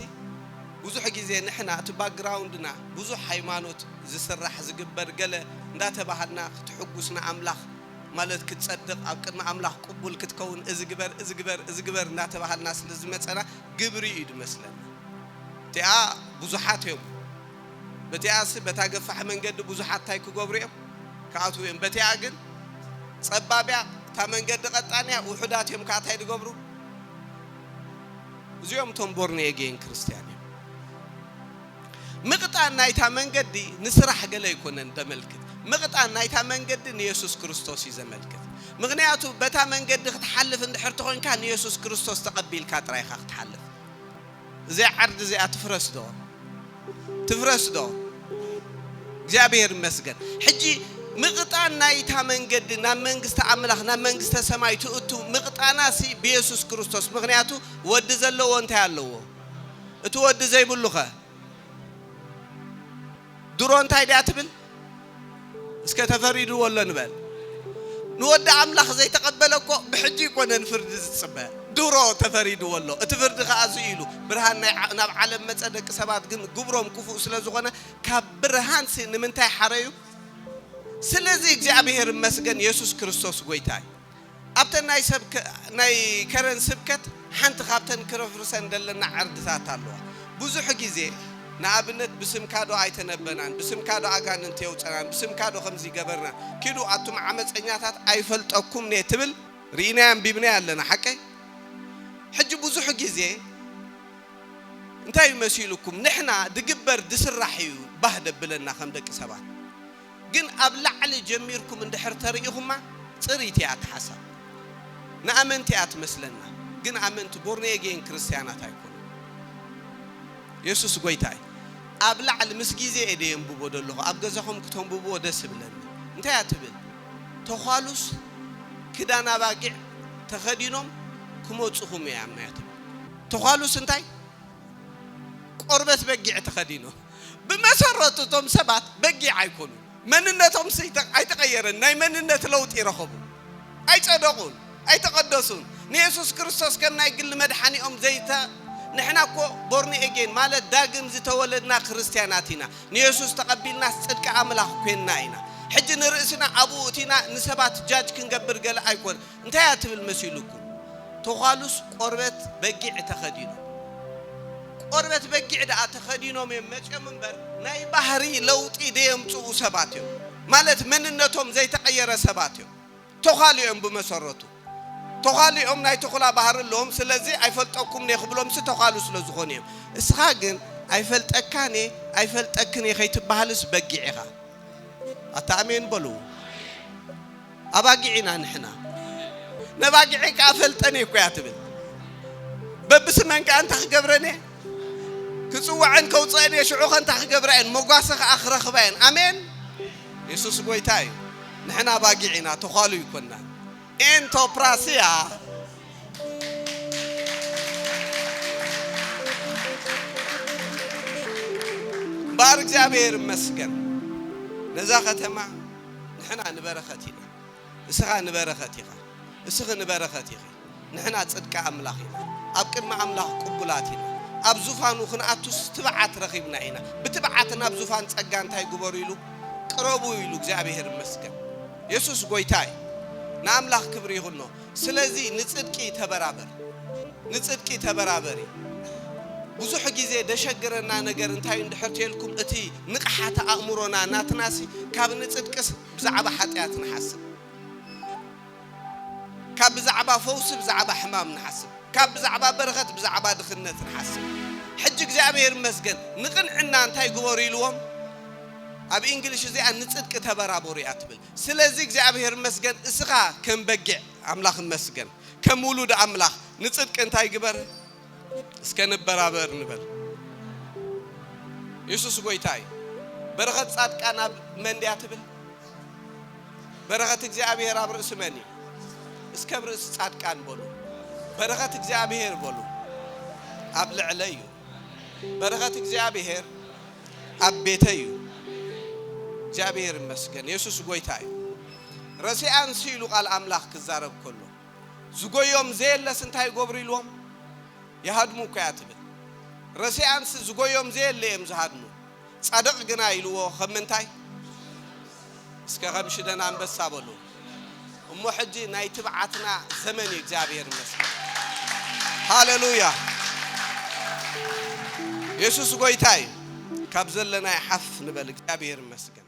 ብዙሕ ግዜ ንሕና እቲ ባክግራውንድና ብዙሕ ሃይማኖት ዝስራሕ ዝግበር ገለ እንዳተባሃልና ክትሕጉስ ንኣምላኽ ማለት ክትጸድቅ ኣብ ቅድሚ ኣምላኽ ቅቡል ክትከውን እዚ ግበር እዚ ግበር እዚ ግበር እንዳተባሃልና ስለ ዝመጸና ግብሪ እዩ ድመስለና እቲኣ ብዙሓት እዮም በቲኣስ በታ ገፋሕ መንገዲ ብዙሓት ታይ ክገብሩ እዮም ክኣትዉ እዮም በቲኣ ግን ጸባብ እያ እታ መንገዲ ቀጣን እያ ውሑዳት እዮም ከኣ ታይ ድገብሩ እዚኦም እቶም ቦርን ኤጌን ክርስትያን እዮም ምቕጣን ናይታ መንገዲ ንስራሕ ገለ ኣይኮነን ደመልክት ምቕጣን ናይታ መንገዲ ንየሱስ ክርስቶስ እዩ ዘመልክት ምክንያቱ በታ መንገዲ ክትሓልፍ እንድሕር ተኾንካ ንየሱስ ክርስቶስ ተቐቢልካ ጥራይ ኢኻ ክትሓልፍ እዚኣ ዓርዲ እዚኣ ትፍረስ ዶ ትፍረስ ዶ እግዚኣብሔር ይመስገን ሕጂ ምቕጣን ናይታ መንገዲ ናብ መንግስቲ ኣምላኽ ናብ መንግስተ ሰማይ ትእቱ ምቕጣና ሲ ብየሱስ ክርስቶስ ምክንያቱ ወዲ ዘለዎ እንታይ ኣለዎ እቲ ወዲ ዘይብሉኸ ድሮ እንታይ ድያ ትብል እስከ ተፈሪድዎ ኣሎ ንበል ንወዲ ኣምላኽ ዘይተቀበለ እኮ ብሕጂ ኣይኮነን ፍርዲ ዝጽበ ድሮ ተፈሪድዎ ኣሎ እቲ ፍርዲ ከኣ እዚ ኢሉ ብርሃን ናይ ናብ ዓለም መጸ ደቂ ሰባት ግን ግብሮም ክፉእ ስለ ዝኾነ ካብ ብርሃንሲ ንምንታይ ሓረዩ ስለዚ እግዚኣብሔር ይመስገን የሱስ ክርስቶስ ጎይታ እዩ። ኣብተን ናይ ሰብ ናይ ከረን ስብከት ሓንቲ ካብተን ክረፍርሰን ደለና ዕርድታት ኣለዋ ቡዙሑ ግዜ ንኣብነት ብስምካ ዶ ኣይተነበናን ብስምካ ዶ ኣጋንንቲ የውጸናን ብስምካ ዶ ከምዚ ገበርና ኪዱ ኣቱም ዓመጸኛታት ኣይፈልጠኩም እየ ትብል ሪኢናያ ኣንቢብናያ ኣለና ሓቀይ ሕጂ ቡዙሑ ግዜ እንታይ እዩ መሲሉኩም ንሕና ድግበር ድስራሕ እዩ ባህ ደብለና ከም ደቂ ሰባት ግን ኣብ ላዕሊ ጀሚርኩም እንድሕር ተሪኢኹማ ጽርይቲ እያ ኣተሓሳብ ንኣመንቲ እያ ትመስለና ግን ኣመንቲ ቦርኔጌን ክርስትያናት ኣይኮኑን የሱስ ጎይታ እዩ ኣብ ላዕሊ ምስ ግዜ እየ ደየንብቦ ደለኹ ኣብ ገዛኹም ክተንብብዎ ደስ እብለኒ እንታይ እያ ትብል ተዃሉስ ክዳን ኣባጊዕ ተኸዲኖም ክመጹኹም እያ ኣምናያ ትብል ተዃሉስ እንታይ ቆርበት በጊዕ ተኸዲኖም ብመሰረቱ እቶም ሰባት በጊዕ ኣይኮኑን መንነቶም ኣይተቐየረን ናይ መንነት ለውጢ ረኸቡ ኣይጸደቑን ኣይተቐደሱን ንየሱስ ክርስቶስ ከም ናይ ግሊ መድሓኒኦም ዘይተ ንሕና እኮ ቦርን ኤጌን ማለት ዳግም ዝተወለድና ክርስትያናት ኢና ንየሱስ ተቐቢልናስ ጽድቂ ኣምላኽ ኮንና ኢና ሕጂ ንርእስና ኣብኡ እቲና ንሰባት ጃጅ ክንገብር ገለ ኣይኮን እንታይ እያ ትብል መሲሉኩም? ተዃሉስ ቆርበት በጊዕ ተኸዲኖም። ቆርበት በጊዕ ደኣ ተኸዲኖም እዮም መጺኦም እምበር ናይ ባህሪ ለውጢ ደየምጽኡ ሰባት እዮም። ማለት መንነቶም ዘይተቐየረ ሰባት እዮም። ተዃሉ እዮም ብመሰረቱ። ተዃሉ እዮም ናይ ተኹላ ባህሪ ኣለዎም። ስለዚ ኣይፈልጠኩምን እየ ክብሎምሲ ተዃሉ ስለዝኾኑ እዮም። እስኻ ግን ኣይፈልጠካን እየ ኣይፈልጠክን እየ ከይትበሃልስ በጊዕ ኢኻ። ኣታ ኣሜን በሉ። ኣባጊዕ ኢና ንሕና ነባጊዐይ ከኣ ፈልጠን እየ እኮያ ትብል በብስመን ከኣ እንታይ ክገብረን እየ ክጽዋዐን ከውጽአን እየ ሽዑ ከንታ ክገብራ እየን መጓሰ ከኣ ክረኽባ እየን ኣሜን የሱስ ጎይታ እዩ ንሕና ኣባጊዕ ኢና ተዃሉ ይኮና ኤንቶፕራስያ እምበኣር እግዚኣብሔር ይመስገን ነዛ ከተማ ንሕና ንበረኸት ኢና። እስኻ ንበረኸት ኢኻ። እስኺ ንበረኸት ኢኺ። ንሕና ጽድቂ ኣምላኽ ኢና። ኣብ ቅድሚ ኣምላኽ ቅቡላት ኢና። ኣብ ዙፋኑ ክንኣቱስ ትብዓት ረኺብና ኢና። ብትብዓት ናብ ዙፋን ጸጋ እንታይ ግበሩ ኢሉ? ቅረቡ ኢሉ። እግዚኣብሄር ይመስገን። የሱስ ጎይታ እዩ። ንኣምላኽ ክብሪ ይኹኖ። ስለዚ ንጽድቂ ተበራበር ንጽድቂ ተበራበሪ። ብዙሕ ግዜ ደሸግረና ነገር እንታይ እንድሕር ተልኩም እቲ ንቕሓተ ኣእምሮና ናትናሲ ካብ ንጽድቅስ ብዛዕባ ሓጥያት ንሓስብ ካብ ብዛዕባ ፈውሲ ብዛዕባ ሕማም ንሓስብ ካብ ብዛዕባ በረኸት ብዛዕባ ድኽነት ንሓስብ ሕጂ እግዚኣብሔር ይመስገን ንቕንዕና እንታይ ግበሩ ኢልዎም ኣብ ኢንግሊሽ እዚኣ ንጽድቂ ተበራበሩ እያ ትብል። ስለዚ እግዚኣብሔር እመስገን እስኻ ከም በጊዕ ኣምላኽ እመስገን ከም ውሉድ ኣምላኽ ንጽድቂ እንታይ ግበር እስከ ንበራበር ንበል የሱስ ጎይታ እዩ በረኸት ጻድቃን ኣብ መን ድያ ትብል በረኸት እግዚኣብሔር ኣብ ርእሲ መን እዩ እስከ ብ ርእሲ ጻድቃን በሉ በረኸት እግዚኣብሔር በሉ ኣብ ልዕለ እዩ በረኸት እግዚኣብሔር ኣብ ቤተይ እዩ እግዚኣብሔር ይመስገን የሱስ ጎይታ እዩ ረሲኣን ሲ ኢሉ ቃል ኣምላኽ ክዛረብ ከሎ ዝጎዮም ዘየለስ እንታይ ይገብሩ ኢልዎም ይሃድሙ እኮ እያ ትብል ረሲኣን ሲ ዝጎዮም ዘየለ እዮም ዝሃድሙ ጻድቕ ግና ኢልዎ ከም ምንታይ እስከ ከም ሽደን ኣንበሳ በሉ እሞ ሕጂ ናይ ትብዓትና ዘመን እዩ እግዚኣብሔር ይመስገን ሃለሉያ የሱስ ጎይታ እዩ ካብ ዘለናይ ሓፍ ንበል እግዚኣብሔር ይመስገን